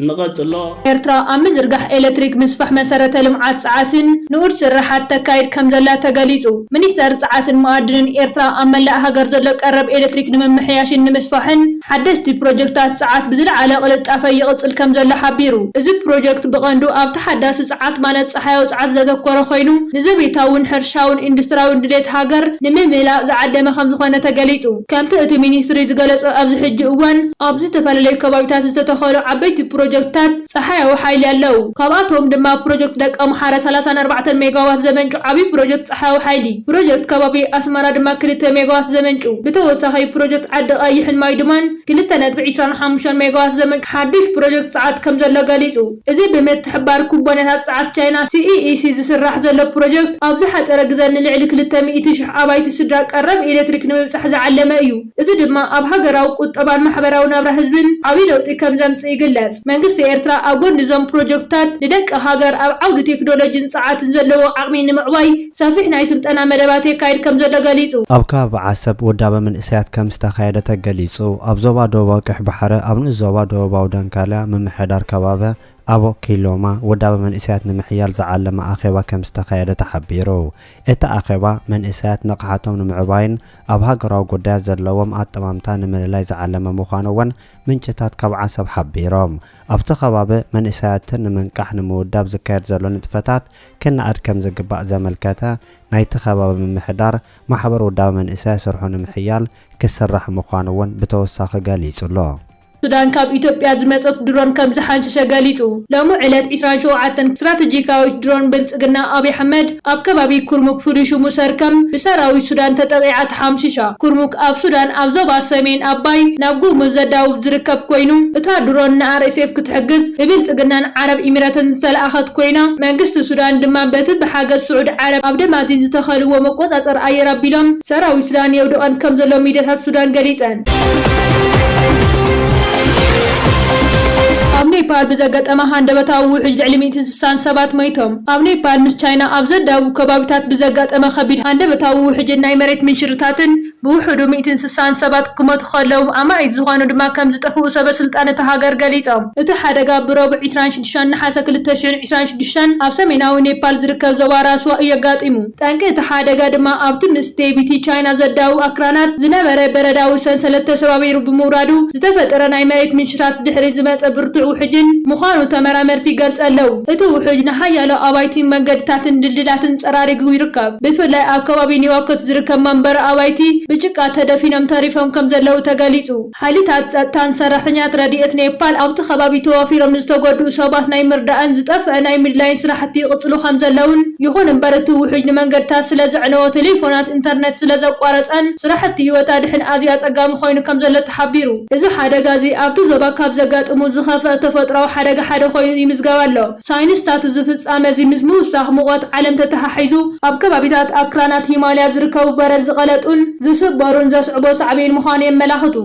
ንቐጽሎ። ኤርትራ ኣብ ምዝርጋሕ ኤለትሪክ፣ ምስፋሕ መሰረተ ልምዓት ጸዓትን ንኡድ ስርሓት ተካይድ ከምዘላ ተገሊጹ። ሚኒስተር ጸዓትን መኣድንን ኤርትራ ኣብ መላእ ሃገር ዘሎ ቀረብ ኤለትሪክ ንምምሕያሽን ንምስፋሕን ሓደስቲ ፕሮጀክትታት ጸዓት ብዝለዓለ ቅልጣፈ ይቕጽል ከምዘሎ ሓቢሩ። እዚ ፕሮጀክት ብቐንዱ ኣብ ተሓዳሲ ጸዓት ማለት ጸሓያዊ ጸዓት ዘተኮረ ኮይኑ ንዘቤታውን ሕርሻውን ኢንዱስትራውን ድሌት ሃገር ንምምላእ ዝዓደመ ከምዝኾነ ተገሊጹ። ከምቲ እቲ ሚኒስትሪ ዝገለፆ ኣብዚ ሕጂ እዋን ኣብ ዝተፈላለዩ ከባቢታት ዝተተኸሉ ዓበይቲ ፕሮጀክትታት ፀሓያዊ ሓይሊ ኣለው። ካብኣቶም ድማ ፕሮጀክት ደቀ ኣምሓረ ሰላሳን ኣርባዕተን ሜጋዋት ዘመንጩ ዓብዪ ፕሮጀክት ፀሓያዊ ሓይሊ፣ ፕሮጀክት ከባቢ ኣስመራ ድማ ክልተ ሜጋዋት ዘመንጩ፣ ብተወሳኺ ፕሮጀክት ዓዲ ቐይሕን ማይዱማን ክልተ ነጥቢ ዒስራን ሓሙሽተን ሜጋዋት ዘመንጩ ሓዱሽ ፕሮጀክት ፀዓት ከምዘሎ ገሊፁ። እዚ ብምትሕብባር ኩባንያታት ጸዓት ቻይና ሲኢኢሲ ዝስራሕ ዘሎ ፕሮጀክት፣ ኣብ ዝሓጸረ ግዘ ንልዕሊ ክልተ ሚእቲ ሽሕ ኣባይቲ ስድራ ቀረብ ኤሌክትሪክ ንምብጻሕ ዝዓለመ እዩ። እዚ ድማ ኣብ ሃገራዊ ቁጠባን ማሕበራዊ ናብራ ህዝብን ዓብዪ ለውጢ ከምዘምጽእ ይግለጽ። መንግስቲ ኤርትራ ኣብ ጎኒ እዞም ፕሮጀክትታት፣ ንደቂ ሃገር ኣብ ዓውዲ ቴክኖሎጂን ጸዓትን ዘለዎ ዓቕሚ ንምዕባይ፣ ሰፊሕ ናይ ስልጠና መደባት የካይድ ከምዘሎ ገሊፁ። ኣብ ከባቢ ዓሰብ ውዳበ መንእሰያት ከምዝተኻየደ ተገሊፁ። ኣብ ዞባ ደቡባዊ ቀይሕ ባሕረ ኣብ ንኡስ ዞባ ደቡባዊ ደንካልያ ምምሕዳር ከባቢ ኣቦ ኪሎማ ውዳበ መንእሰያት ንምሕያል ዝዓለመ ኣኼባ ከምዝተኻየደ ተሓቢሩ። እቲ ኣኼባ መንእሰያት ንቕሓቶም ንምዕባይን ኣብ ሃገራዊ ጉዳያት ዘለዎም ኣጠማምታ ንምልላይ ዝዓለመ ምዃኑ እውን ምንጭታት ካብ ዓሰብ ሓቢሮም። ኣብቲ ከባቢ መንእሰያትን ንምንቃሕ ንምውዳብ ዝካየድ ዘሎ ንጥፈታት ክነኣድ ከምዝግባእ ዘመልከተ ናይቲ ከባቢ ምምሕዳር ማሕበር ውዳበ መንእሰያት ስርሑ ንምሕያል ክስራሕ ምዃኑ እውን ብተወሳኺ ገሊፁ ኣሎ። ሱዳን ካብ ኢትዮጵያ ዝመጸት ድሮን ከምዝሓንሸሸ ገሊጹ ሎሚ ዕለት ዕስራን ሸውዓተን ስትራተጂካዊት ድሮን ብልጽግና ኣብይ ኣሕመድ ኣብ ከባቢ ኩርሙክ ፍሉይ ሽሙ ሰርክም ብሰራዊት ሱዳን ተጠቒዓ ሓምሺሻ ኩርሙክ ኣብ ሱዳን ኣብ ዞባ ሰሜን ኣባይ ናብ ጉሙዝ ዘዳውብ ዝርከብ ኮይኑ፣ እታ ድሮን ንኣርኤስኤፍ ክትሕግዝ ብብልጽግናን ዓረብ ኢሚረትን ዝተላእከት ኮይና፣ መንግስቲ ሱዳን ድማ በቲ ብሓገዝ ስዑዲ ዓረብ ኣብ ደማዚን ዝተኸልዎ መቆጻጸሪ ኣየር ኣቢሎም ሰራዊት ሱዳን የውድቐን ከምዘሎ ሚድያታት ሱዳን ገሊጸን። ኣብ ኔፓል ብዘገጠመ ሃንደበታዊ ውሕጅ ልዕሊ ሚእቲ ስሳን ሰባት ሞይቶም። ኣብ ኔፓል ምስ ቻይና ኣብ ዘዳውብ ከባቢታት ብዘጋጠመ ከቢድ ሃንደበታዊ ውሕጅን ናይ መሬት ምንሽርታትን ብውሑዱ ሚእትን ስሳን ሰባት ክሞቱ ከለው ኣማኢት ዝኾኑ ድማ ከምዝጠፍኡ ሰበስልጣን እታ ሃገር ገሊጾም። እቲ ሓደጋ ብረቡዕ ዕስራን ሽዱሽተን ነሓሰ ክልተ ሽሕን ዕስራን ሽዱሽተን ኣብ ሰሜናዊ ኔፓል ዝርከብ ዞባ ራስዋ እዩኣጋጢሙ። ጠንቂ እቲ ሓደጋ ድማ ኣብቲ ምስ ዴቢቲ ቻይና ዘዳውብ ኣክራናት ዝነበረ በረዳዊ ሰንሰለት ተሰባቢሩ ብምውራዱ ዝተፈጠረ ናይ መሬት ምንሽታት ድሕሪ ዝመጸ ብርቱዕ ውሕጅን ምዃኑ ተመራመርቲ ይገልጸ ኣለው። እቲ ውሕጅ ንሓያሎ ኣባይቲን መንገድታትን ድልድላትን ጸራሪጉ ይርከብ። ብፍላይ ኣብ ከባቢ ኒዋኮት ዝርከብ መንበሪ ኣባይቲ ብጭቃ ተደፊኖም ተሪፎም ከምዘለው ተገሊጹ። ሓይልታት ጸጥታን ሰራሕተኛታት ረድኤት ኔፓል ኣብቲ ከባቢ ተዋፊሮም ንዝተጎድኡ ሰባት ናይ ምርዳእን ዝጠፍአ ናይ ምድላይን ስራሕቲ ይቕጽሉ ከምዘለዉን ይኹን እምበር እቲ ውሕጅ ንመንገድታት ስለዘዕነዎ ቴሌፎናት ኢንተርነት ስለዘቋረጸን ስራሕቲ ህይወት ኣድሕን ኣዝዩ ኣጸጋሚ ኮይኑ ከምዘሎ ተሓቢሩ። እዚ ሓደጋ እዚ ኣብቲ ዞባ ካብ ዘጋጥሙ ዝኸፍኣ ተፈጥሮኣዊ ሓደጋ ሓደ ኮይኑ ይምዝገብ ኣሎ። ሳይንስታት እዚ ፍጻመ እዚ ምስ ምውሳኽ ሙቐት ዓለም ተተሓሒዙ ኣብ ከባቢታት ኣክራናት ሂማልያ ዝርከቡ በረድ ዝቐለጡን ዝስበሩን ዘስዕቦ ሳዕቤን ምዃኑ የመላኽቱ።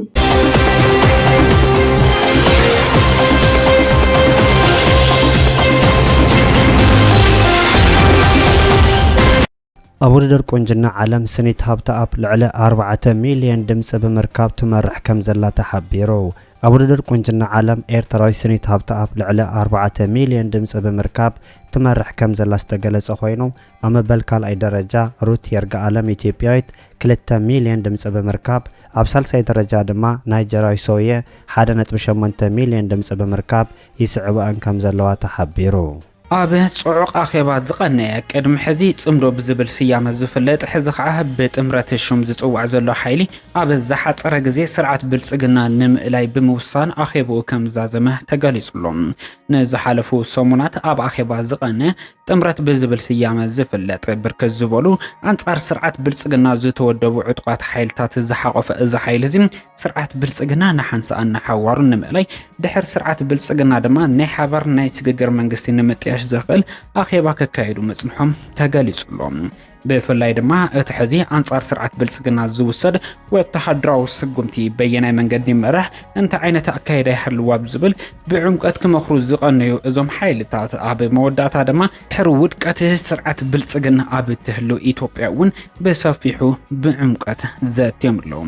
ኣብ ውድድር ቁንጅና ዓለም ስኒት ሃብተኣብ ልዕሊ ኣርባዕተ ሚልዮን ድምፂ ብምርካብ ትመርሕ ከምዘላ ተሓቢሩ። ኣብ ውድድር ቁንጅና ዓለም ኤርትራዊት ስኒት ሃብተኣብ ልዕሊ ኣርባዕተ ሚልዮን ድምፂ ብምርካብ ትመርሕ ከምዘላ ዝተገለፀ ኮይኑ ኣብ መበል ካልኣይ ደረጃ ሩት የርጋኣለም ኢትዮጵያዊት ክልተ ሚልዮን ድምፂ ብምርካብ ኣብ ሳልሳይ ደረጃ ድማ ናይጀርያዊ ሶውየ ሓደ ነጥቢ ሸሞንተ ሚልዮን ድምፂ ብምርካብ ይስዕበኣን ከምዘለዋ ተሓቢሩ። ኣብ ጽዑቕ ኣኼባ ዝቐነየ፣ ቅድሚ ሕዚ ጽምዶ ብዝብል ስያመ ዝፍለጥ ሕዚ ከኣ ብጥምረት ሹም ዝጽዋዕ ዘሎ ሓይሊ፣ ኣብ ዝሓጸረ ግዜ ስርዓት ብልጽግና ንምእላይ ብምውሳን ኣኼብኡ ከምዝዛዘመ ተገሊጹ'ሎ። ንዝሓለፉ ሰሙናት ኣብ ኣኼባ ዝቐነየ ጥምረት ብዝብል ስያመ ዝፍለጥ ብርክት ዝበሉ ኣንጻር ስርዓት ብልጽግና ዝተወደቡ ዕጡቓት ሓይልታት ዝሓቖፈ እዚ ሓይሊ'ዚ፣ ስርዓት ብልጽግና ንሓንሳእን ንሓዋሩን ንምእላይ፣ ድሕሪ ስርዓት ብልጽግና ድማ ናይ ሓባር ናይ ስግግር መንግስቲ ንምጥያሽ ዘኽእል ኣኼባ ከካይዱ ምጽንሖም ተገሊጹ'ሎ። ብፍላይ ድማ እቲ ሕዚ ኣንጻር ስርዓት ብልጽግና ዝውሰድ ወተሃደራዊ ስጉምቲ በየናይ መንገዲ ይመራሕ፣ እንታይ ዓይነት ኣካይዳ ይሃልዎ ኣብ ዝብል ብዕምቆት ክመኽሩ ዝቐነዩ እዞም ሓይልታት፣ ኣብ መወዳእታ ድማ ድሕሪ ውድቀት ስርዓት ብልጽግና ኣብ እትህሉ ኢትዮጵያ እውን ብሰፊሑ ብዕምቆት ዘትዮም ኣለዉ።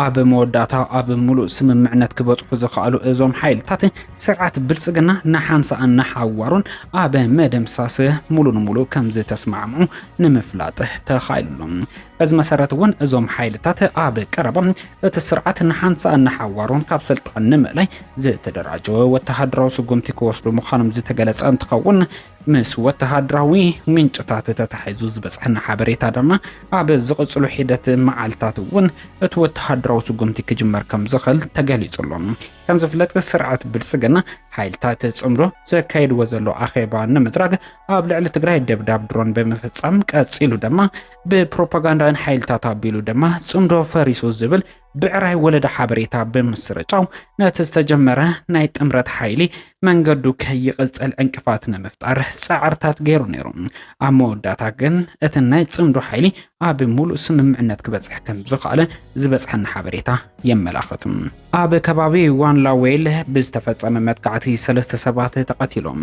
ኣብ መወዳእታ ኣብ ምሉእ ስምምዕነት ክበጽሑ ዝኸኣሉ እዞም ሓይልታት ስርዓት ብልጽግና ንሓንሳእን ንሓዋሩን ኣብ መደምሳስ ሙሉ ንሙሉ ከም ዝተስማዕምዑ ንምፍላጥ ተኻኢሉሎ። በዚ መሰረት እውን እዞም ሓይልታት ኣብ ቀረባ እቲ ስርዓት ንሓንሳእን ንሓዋሩን ካብ ስልጣን ንምእላይ ዝተደራጀወ ወተሃደራዊ ስጉምቲ ክወስዱ ምዃኖም ዝተገለጸ እንትኸውን ምስ ወተሃደራዊ ምንጭታት ተታሒዙ ዝበጽሐና ሓበሬታ ድማ ኣብ ዝቕጽሉ ሒደት መዓልታት እውን እቲ ወተሃደራዊ ስጉምቲ ክጅመር ከም ዝኽእል ተገሊጹ ኣሎ። ከም ዝፍለጥ ስርዓት ብልጽግና ሓይልታት ጽምዶ ዘካይድዎ ዘሎ ኣኼባ ንምጽራግ ኣብ ልዕሊ ትግራይ ደብዳብ ድሮን ብምፍጻም ቀጺሉ ድማ ብፕሮፓጋንዳውያን ሓይልታት ኣቢሉ ድማ ጽምዶ ፈሪሱ ዝብል ብዕራይ ወለደ ሓበሬታ ብምስርጫው ነቲ ዝተጀመረ ናይ ጥምረት ሓይሊ መንገዱ ከይቕጽል ዕንቅፋት ንምፍጣር ጻዕርታት ገይሩ ነይሩ። ኣብ መወዳእታ ግን እቲ ናይ ጽምዶ ሓይሊ ኣብ ሙሉእ ስምምዕነት ክበጽሕ ከም ዝኸኣለ ዝበጽሐና ሓበሬታ የመላኽት። ኣብ ከባቢ ዋንላዌል ብዝተፈጸመ መጥቃዕቲ ሰለስተ ሰባት ተቐቲሎም።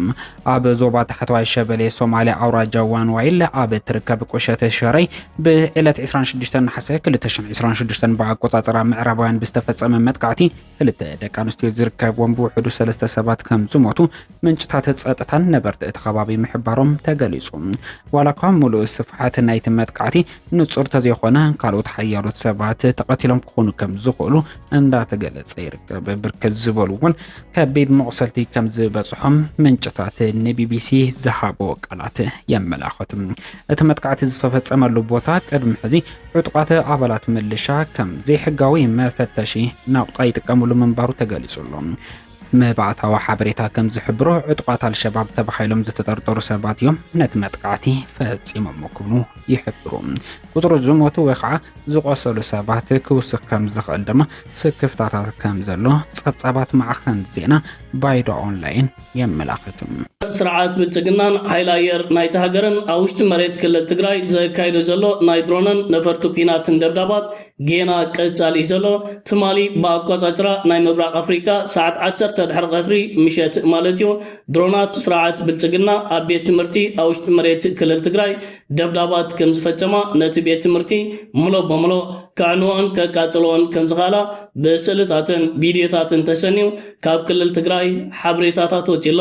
ኣብ ዞባ ታሕተዋይ ሸበሌ ሶማልያ ኣውራጃ ዋንዋይለ ኣብ እትርከብ ቁሸተ ሸረይ ብዕለት 26 ነሓሰ 2026 ብኣቆጻጽራ ምዕራባውያን ብዝተፈጸመ መጥቃዕቲ ክልተ ደቂ ኣንስትዮ ዝርከብዎም ብውሕዱ ሰለስተ ሰባት ከም ዝሞቱ ምንጭታት ጸጥታን ነበርቲ እቲ ከባቢ ምሕባሮም ተገሊጹ። ዋላ እኳ ምሉእ ስፍሓት ናይቲ መጥቃዕቲ ንጹር ተዘይኾነ ካልኦት ሓያሎት ሰባት ተቐቲሎም ክኾኑ ከም ዝኽእሉ እንዳተገለጸ ይርከብ። ብርክት ዝበሉ እውን ከቢድ መቑሰልቲ ከም ዝበጽሖም ምንጭታት ንቢቢሲ ዝሃቦ ቃላት የመላኽት። እቲ መጥቃዕቲ ዝተፈጸመሉ ቦታ ቅድሚ ሕዚ ዕጡቓት ኣባላት ምልሻ ከም ዘይሕጋዊ መፈተሺ ናቑጣ ይጥቀምሉ ምንባሩ ተገሊጹ ኣሎ። መባእታዊ ሓበሬታ ከም ዝሕብሮ ዕጡቓት ኣልሸባብ ተባሂሎም ዝተጠርጠሩ ሰባት እዮም ነቲ መጥቃዕቲ ፈጺሞም ክብሉ ይሕብሩ። ቁጽሪ ዝሞቱ ወይ ከዓ ዝቖሰሉ ሰባት ክውስኽ ከም ዝኽእል ድማ ስክፍታታት ከም ዘሎ ጸብጻባት ማዕኸን ዜና ባይዶ ኦንላይን የመላኽት። ስርዓት ብልፅግናን ሓይሊ ኣየር ናይቲ ሃገርን ኣብ ውሽጢ መሬት ክልል ትግራይ ዘካይዶ ዘሎ ናይ ድሮንን ነፈርቲ ኲናትን ደብዳባት ጌና ቀጻሊ እዩ ዘሎ። ትማሊ ብኣቋጻጽራ ናይ ምብራቕ ኣፍሪቃ ሰዓት ዓሰርተ ድሕሪ ቀትሪ፣ ምሸት፣ ማለት እዩ ድሮናት ስርዓት ብልፅግና ኣብ ቤት ትምህርቲ ኣብ ውሽጢ መሬት ክልል ትግራይ ደብዳባት ከም ዝፈጸማ፣ ነቲ ቤት ትምህርቲ ምሉእ ብምሉእ ከዕንወኦን ከቃጽልኦን ከም ዝኸእላ ብስእልታትን ቪድዮታትን ተሰንዩ ካብ ክልል ትግራይ ሓበሬታታት ወጺኡ ኣሎ።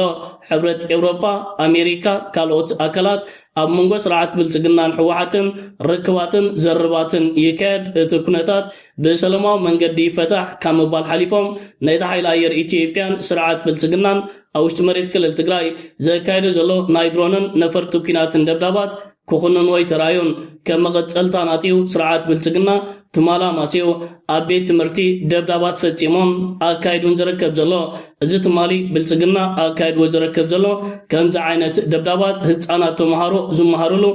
ሕብረት ኤውሮጳ፣ ኣሜሪካ፣ ካልኦት ኣካላት ኣብ መንጎ ስርዓት ብልጽግናን ህወሓትን ርክባትን ዝርርባትን ይካየድ፣ እቲ ኩነታት ብሰለማዊ መንገዲ ይፈታሕ ካብ ምባል ሓሊፎም ነቲ ሓይሊ ኣየር ኢትዮጵያን ስርዓት ብልጽግናን ኣብ ውሽጢ መሬት ክልል ትግራይ ዘካየደ ዘሎ ናይ ድሮንን ነፈርቲ ኲናትን ደብዳባት ክኹንንዎ ኣይተራእዩን። ከም መቐጸልታ ናትዩ ስርዓት ብልጽግና ትማል ኣማስዩ ኣብ ቤት ትምህርቲ ደብዳባት ፈጺሙን ኣካይዱን ዝረከብ ዘሎ። እዚ ትማሊ ብልጽግና ኣካይድዎ ዝረከብ ዘሎ ከምዚ ዓይነት ደብዳባት ህጻናት ተመሃሮ ዝመሃርሉ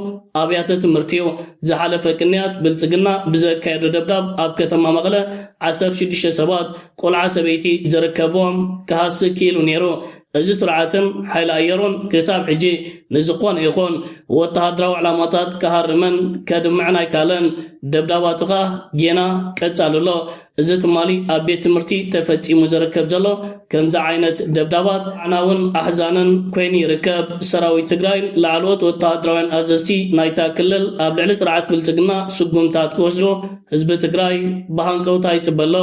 ኣብያተ ትምህርቲዩ። ዝሓለፈ ቅንያት ብልጽግና ብዘካየዶ ደብዳብ ኣብ ከተማ መቐለ ዓሰርተ ሽዱሽተ ሰባት ቆልዓ ሰበይቲ ዝርከብዎም ክሃሲ ክኢሉ ነይሩ። እዚ ስርዓትን ሓይሊ ኣየሩን ክሳብ ሕጂ ንዝኾነ ይኹን ወተሃደራዊ ዕላማታት ክሃርምን ከድምዕን ኣይከኣለን። ደብዳባቱ ከኣ ጌና ቀጻሊ ኣሎ። እዚ ትማሊ ኣብ ቤት ትምህርቲ ተፈጺሙ ዝርከብ ዘሎ ከምዚ ዓይነት ደብዳባት ኣዕናውን ኣሕዛንን ኮይኑ ይርከብ። ሰራዊት ትግራይን ላዕለዎት ወተሃደራውያን ኣዘዝቲ ናይታ ክልል ኣብ ልዕሊ ስርዓት ብልጽግና ስጉምታት ክወስዱ ህዝቢ ትግራይ ብሃንቀውታ ይፅበ ኣሎ።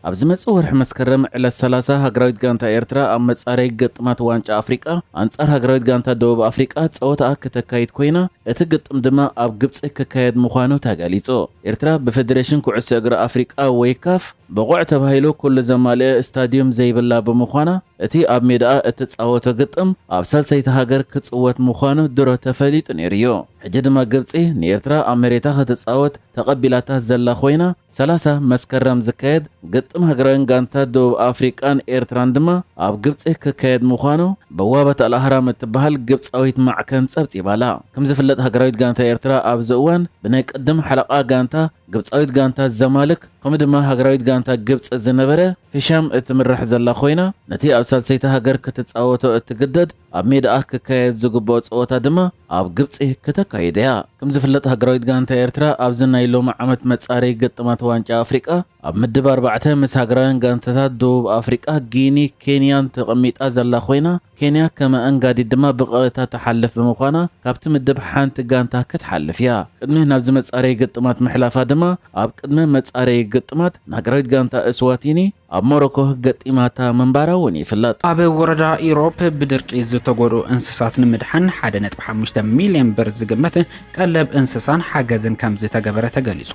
ኣብ ዝመጽእ ወርሒ መስከረም ዕለት ሰላሳ ሃገራዊት ጋንታ ኤርትራ ኣብ መጻረይ ግጥማት ዋንጫ ኣፍሪቃ ኣንጻር ሃገራዊት ጋንታ ደቡብ ኣፍሪቃ ጸወታኣ ከተካይድ ኮይና እቲ ግጥም ድማ ኣብ ግብጺ ክካየድ ምዃኑ ተገሊጹ። ኤርትራ ብፈደሬሽን ኩዕሶ እግሪ ኣፍሪቃ ወይ ካፍ ብቑዕ ተባሂሉ ኩሉ ዘማልእ ስታድዩም ዘይብላ ብምዃና እቲ ኣብ ሜዳኣ እትጻወቶ ግጥም ኣብ ሳልሰይቲ ሃገር ክጽወት ምዃኑ ድሮ ተፈሊጡ ነይሩ'ዩ። ሕጂ ድማ ግብጺ ንኤርትራ ኣብ መሬታ ክትጻወት ተቐቢላታ ዘላ ኮይና፣ ሰላሳ መስከረም ዝካየድ ግጥም ሃገራውያን ጋንታ ደቡብ ኣፍሪቃን ኤርትራን ድማ ኣብ ግብጺ ክካየድ ምዃኑ በዋበት ኣል ኣህራም እትበሃል ግብጻዊት ማዕከን ጸብጺባ'ላ። ከምዝፍለጥ ሃገራዊት ጋንታ ኤርትራ ኣብዚ እዋን ብናይ ቅድም ሓለቓ ጋንታ ግብጻዊት ጋንታ ዘማልክ ከምኡ ድማ ሃገራዊት ጋንታ ግብጺ ዝነበረ ህሻም እትምራሕ ዘላ ኮይና፣ ነቲ ኣብ ሳልሰይቲ ሃገር ክትጻወቶ እትግደድ ኣብ ሜዳኣ ክካየድ ዝግብኦ ጸወታ ድማ ኣብ ግብጺ ክተካይድ እያ። ከም ዝፍለጥ ሃገራዊት ጋንታ ኤርትራ ኣብዚ ናይ ሎሚ ዓመት መጻረዪ ግጥማት ዋንጫ ኣፍሪቃ ኣብ ምድብ ኣርባዕተ ምስ ሃገራውያን ጋንታታት ደቡብ ኣፍሪቃ፣ ጊኒ፣ ኬንያን ተቐሚጣ ዘላ ኮይና፣ ኬንያ ከም ኣኣንጋዲት ድማ ብቐረታ ትሓልፍ ብምዃና ካብቲ ምድብ ሓንቲ ጋንታ ክትሓልፍ እያ። ቅድሚ ናብዚ መጻረዪ ግጥማት ምሕላፋ ድማ ኣብ ቅድመ መጻረዪ ግጥማት ንሃገራዊት ጋንታ እስዋቲኒ ኣብ ሞሮኮ ገጢማታ ምንባራ'ውን ይፍለጥ። ኣብ ወረዳ ኢሮብ ብድርቂ ዝተጎድኡ እንስሳት ንምድሓን ሓደ ነጥቢ ሓሙሽተ ሚልየን ብር ዝግመት ቀለብ እንስሳን ሓገዝን ከምዝተገበረ ተገሊፁ።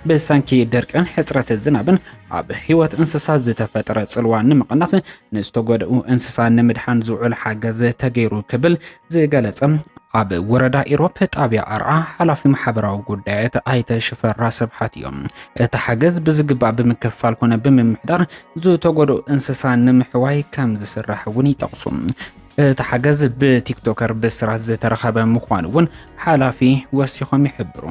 ብሰንኪ ድርቅን ሕፅረት ዝናብን ኣብ ህይወት እንስሳት ዝተፈጠረ ፅልዋ ንምቕናስ ንዝተጎድኡ እንስሳ ንምድሓን ዝውዕል ሓገዝ ተገይሩ ክብል ዝገለጸ ኣብ ወረዳ ኢሮፕ ጣብያ ኣርዓ ሓላፊ ማሕበራዊ ጉዳያት ኣይተ ሽፈራ ስብሓት እዮም። እቲ ሓገዝ ብዝግባእ ብምክፍፋል ኮነ ብምምሕዳር ዝተጎድኡ እንስሳ ንምሕዋይ ከም ዝስራሕ እውን ይጠቕሱ። እቲ ሓገዝ ብቲክቶከር ብስራት ዝተረኸበ ምዃኑ እውን ሓላፊ ወሲኾም ይሕብሩ።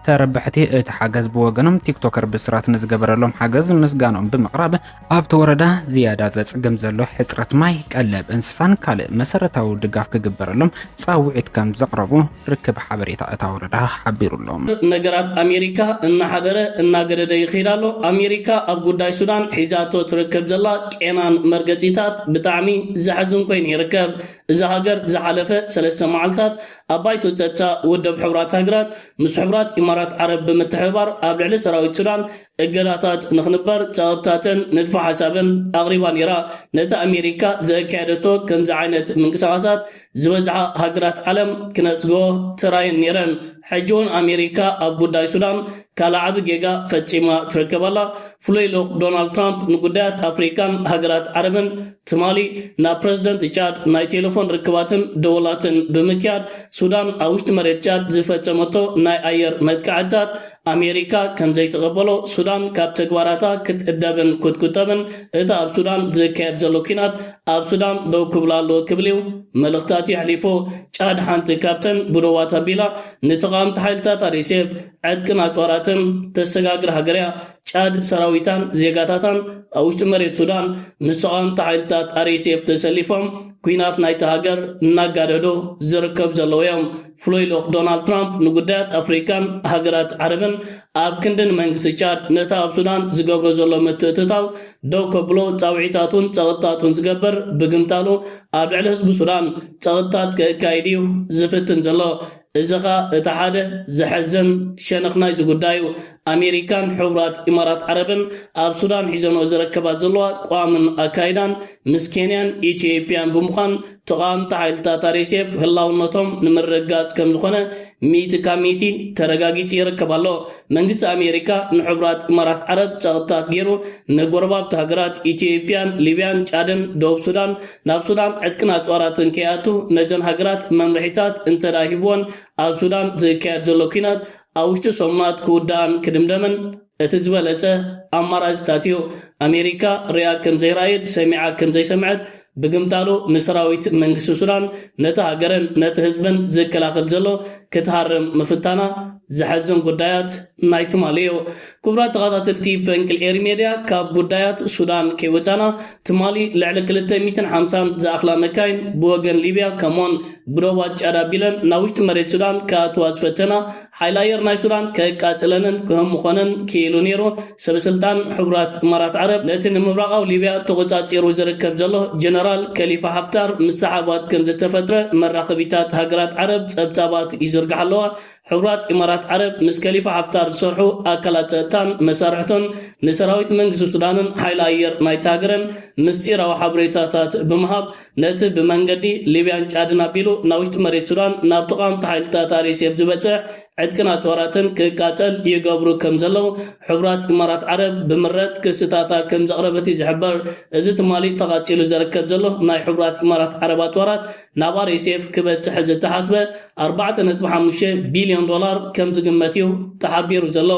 ተረባሕቲ እቲ ሓገዝ ብወገኖም ቲክቶከር ብስራት ንዝገበረሎም ሓገዝ ምስጋኖም ብምቕራብ ኣብቲ ወረዳ ዝያዳ ዘፅግም ዘሎ ሕፅረት ማይ፣ ቀለብ እንስሳን ካልእ መሰረታዊ ድጋፍ ክግበረሎም ፃውዒት ከም ዘቕረቡ ርክብ ሓበሬታ እታ ወረዳ ሓቢሩ'ሎ። ነገራት ኣሜሪካ እናሓደረ እናገደደ ይኸይድ ኣሎ። ኣሜሪካ ኣብ ጉዳይ ሱዳን ሒዛቶ ትርከብ ዘላ ቄናን መርገጺታት ብጣዕሚ ዘሕዝን ኮይኑ ይርከብ። እዛ ሃገር ዝሓለፈ ሰለስተ መዓልታት ኣብ ባይቶ ጸጥታ ውድብ ሕቡራት ሃገራት ምስ ሕቡራት ኢማራት ዓረብ ብምትሕብባር ኣብ ልዕሊ ሰራዊት ሱዳን እገዳታት ንክንበር ጸቕጥታትን ንድፈ ሓሳብን ኣቕሪባ ነይራ። ነቲ ኣሜሪካ ዘእካየደቶ ከምዚ ዓይነት ምንቅስቓሳት ዝበዝሓ ሃገራት ዓለም ክነጽጎ ተራየን ኔረን ሕጂ ውን ኣሜሪካ ኣብ ጉዳይ ሱዳን ካልእ ዓቢ ጌጋ ፈጺማ ትርከብ ኣላ ፍሉይ ልኡኽ ዶናልድ ትራምፕ ንጉዳያት ኣፍሪቃን ሃገራት ዓረብን ትማሊ ናብ ፕረዚደንት ጫድ ናይ ቴለፎን ርክባትን ደወላትን ብምክያድ ሱዳን ኣብ ውሽጢ መሬት ጫድ ዝፈጸመቶ ናይ ኣየር መጥቃዕትታት ኣሜሪካ ከም ዘይትቕበሎ፣ ሱዳን ካብ ተግባራታ ክትእደብን ክትቁጠብን፣ እቲ ኣብ ሱዳን ዝካየድ ዘሎ ኲናት ኣብ ሱዳን ደው ክብል ኣለዎ ክብል'ዩ መልእኽታት የሕሊፉ። ጫድ ሓንቲ ካብተን ብዶባት ኣቢላ ንተቓወምቲ ሓይልታት RSF ዕጥቅን ኣጽዋራትን ተሰጋግር ሃገር'ያ። ጫድ ሰራዊታን ዜጋታታን ኣብ ውሽጢ መሬት ሱዳን ምስ ተቓወምቲ ሓይልታት RSF ተሰሊፎም ኲናት ናይታ ሃገር እናጋደዱ ዝርከቡ ዘለዉ'ዮም። ፍሉይ ልኡኽ ዶናልድ ትራምፕ ንጉዳያት ኣፍሪቃን ሃገራት ዓረብን ኣብ ክንዲ ንመንግስቲ ቻድ ነቲ ኣብ ሱዳን ዝገብሮ ዘሎ ምትእትታው ደው ከብሎ ጻውዒታቱን ጸቕጥታቱን ዝገበር ብግምታሉ ኣብ ልዕሊ ህዝቢ ሱዳን ጸቕጥታት ከእካይድ እዩ ዝፍትን ዘሎ። እዚ ኸኣ እቲ ሓደ ዘሕዝን ሸነኽ ናይዚ ጉዳይ እዩ። ኣሜሪካን ሕቡራት ኢማራት ዓረብን ኣብ ሱዳን ሒዘንኦ ዝረከባ ዘለዋ ቋምን ኣካይዳን ምስ ኬንያን ኢትዮጵያን ብምዃን ተቓወምቲ ሓይልታት ኣርኤስኤፍ ህላውነቶም ንምርግጋጽ ከምዝኾነ ሚእቲ ካብ ሚእቲ ተረጋጊጹ ይርከብ ኣሎ። መንግስቲ ኣሜሪካ ንሕቡራት ኢማራት ዓረብ ጸቕጥታት ገይሩ ንጎረባብቲ ሃገራት ኢትዮጵያን ሊብያን ጫድን ደቡብ ሱዳን ናብ ሱዳን ዕጥቅን ኣጽዋራትን ከይኣቱ ነዘን ሃገራት መምርሒታት እንተድኣ ሂብወን ኣብ ሱዳን ዝካየድ ዘሎ ኲናት ኣብ ውሽጢ ሰሙናት ክውዳእን ክድምደምን እቲ ዝበለጸ ኣማራጺታትዮ፣ ኣሜሪካ ርእያ ከም ዘይረኣየት፣ ሰሚዓ ከም ዘይሰምዐት፣ ብግምጣሉ ንሰራዊት መንግስቲ ሱዳን፣ ነቲ ሃገርን ነቲ ህዝብን ዝከላኸል ዘሎ፣ ክትሃርም ምፍታና ዘሐዝን ጉዳያት ናይ ትማሊዮ። ክቡራት ተኻታተልቲ ፈንቅል ኤሪ ሜድያ፣ ካብ ጉዳያት ሱዳን ከይወጻና፣ ትማሊ ልዕሊ ክልተ ሚእትን ሓምሳን ዝኣኽላ መካይን ብወገን ሊብያ ከምኡ'ውን ብዶባት ጫድ ኣቢለን ናብ ውሽጢ መሬት ሱዳን ክኣትዋ ዝፈተና ሓይሊ ኣየር ናይ ሱዳን ከቃጽለንን ክህምኾንን ክኢሉ ነይሩ። ሰበስልጣን ሕቡራት እማራት ዓረብ ነቲ ንምብራቓዊ ሊብያ ተቖጻጺሩ ዝርከብ ዘሎ ጀነራል ከሊፋ ሓፍታር ምስ ሰሓባት ከምዝተፈጥረ መራኸቢታት ሃገራት ዓረብ ጸብጻባት ይዝርግሓ ኣለዋ። ሕቡራት ኢማራት ዓረብ ምስ ከሊፋ ሓፍታር ዝሰርሑ ኣካላት ጸጥታን መሳርሕቶን ንሰራዊት መንግስቲ ሱዳንን ሓይሊ ኣየር ናይታ ሃገርን ምስጢራዊ ሓበሬታታት ብምሃብ ነቲ ብመንገዲ ሊብያን ጫድን ኣቢሉ ናብ ውሽጢ መሬት ሱዳን ናብ ተቓወምቲ ሓይልታት RSF ዝበጽሕ ዕጥቅን ኣጽዋራትን ክቃጸል ይገብሩ ከም ዘለዉ ሕቡራት ኢማራት ዓረብ ብምረት ክስታታ ከም ዘቕረበት እዩ ዝሕበር። እዚ ትማሊ ተቓጺሉ ዘርከብ ዘሎ ናይ ሕቡራት ኢማራት ዓረብ ኣጽዋራት ናብ RSF ክበጽሕ ዝተሓስበ ኣርባዕተ ነጥቢ ሓሙሽተ ቢልዮን ዶላር ከም ዝግመት እዩ ተሓቢሩ ዘሎ።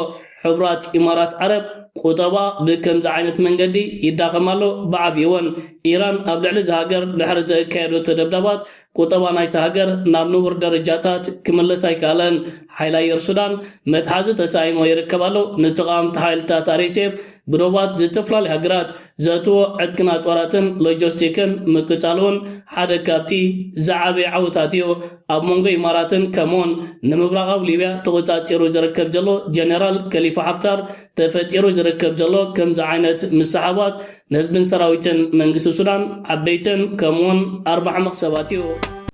ሕቡራት ኢማራት ዓረብ፣ ቁጠባ ብከምዚ ዓይነት መንገዲ ይዳኸም ኣሎ፣ ብዓብይወን ኢራን ኣብ ልዕሊ እዛ ሃገር ድሕሪ ዘእካየደቶ ደብዳባት ቁጠባ ናይታ ሃገር ናብ ንቡር ደረጃታት ክምለስ ኣይከኣለን፣ ሓይሊ ኣየር ሱዳን መትሓዚ ተሳኢንዎ ይርከብ ኣሎ፣ ንተቓወምቲ ሓይልታት RSF ብዶባት ዝተፈላለያ ሃገራት ዘእትዎ ዕጥቅና ጦራትን ሎጀስቲክን ምቅጻሉ ውን ሓደ ካብቲ ዝዓበየ ዓወታት እዩ። ኣብ መንጎ ኢማራትን ከምኡውን ንምብራቓዊ ሊብያ ተቖጻጺሩ ዝርከብ ዘሎ ጀነራል ከሊፋ ሓፍታር ተፈጢሩ ዝርከብ ዘሎ ከምዚ ዓይነት ምስሕሓባት ንህዝብን ሰራዊትን መንግስቲ ሱዳን ዓበይትን ከምኡውን ኣርባሕመኽ ሰባት እዩ።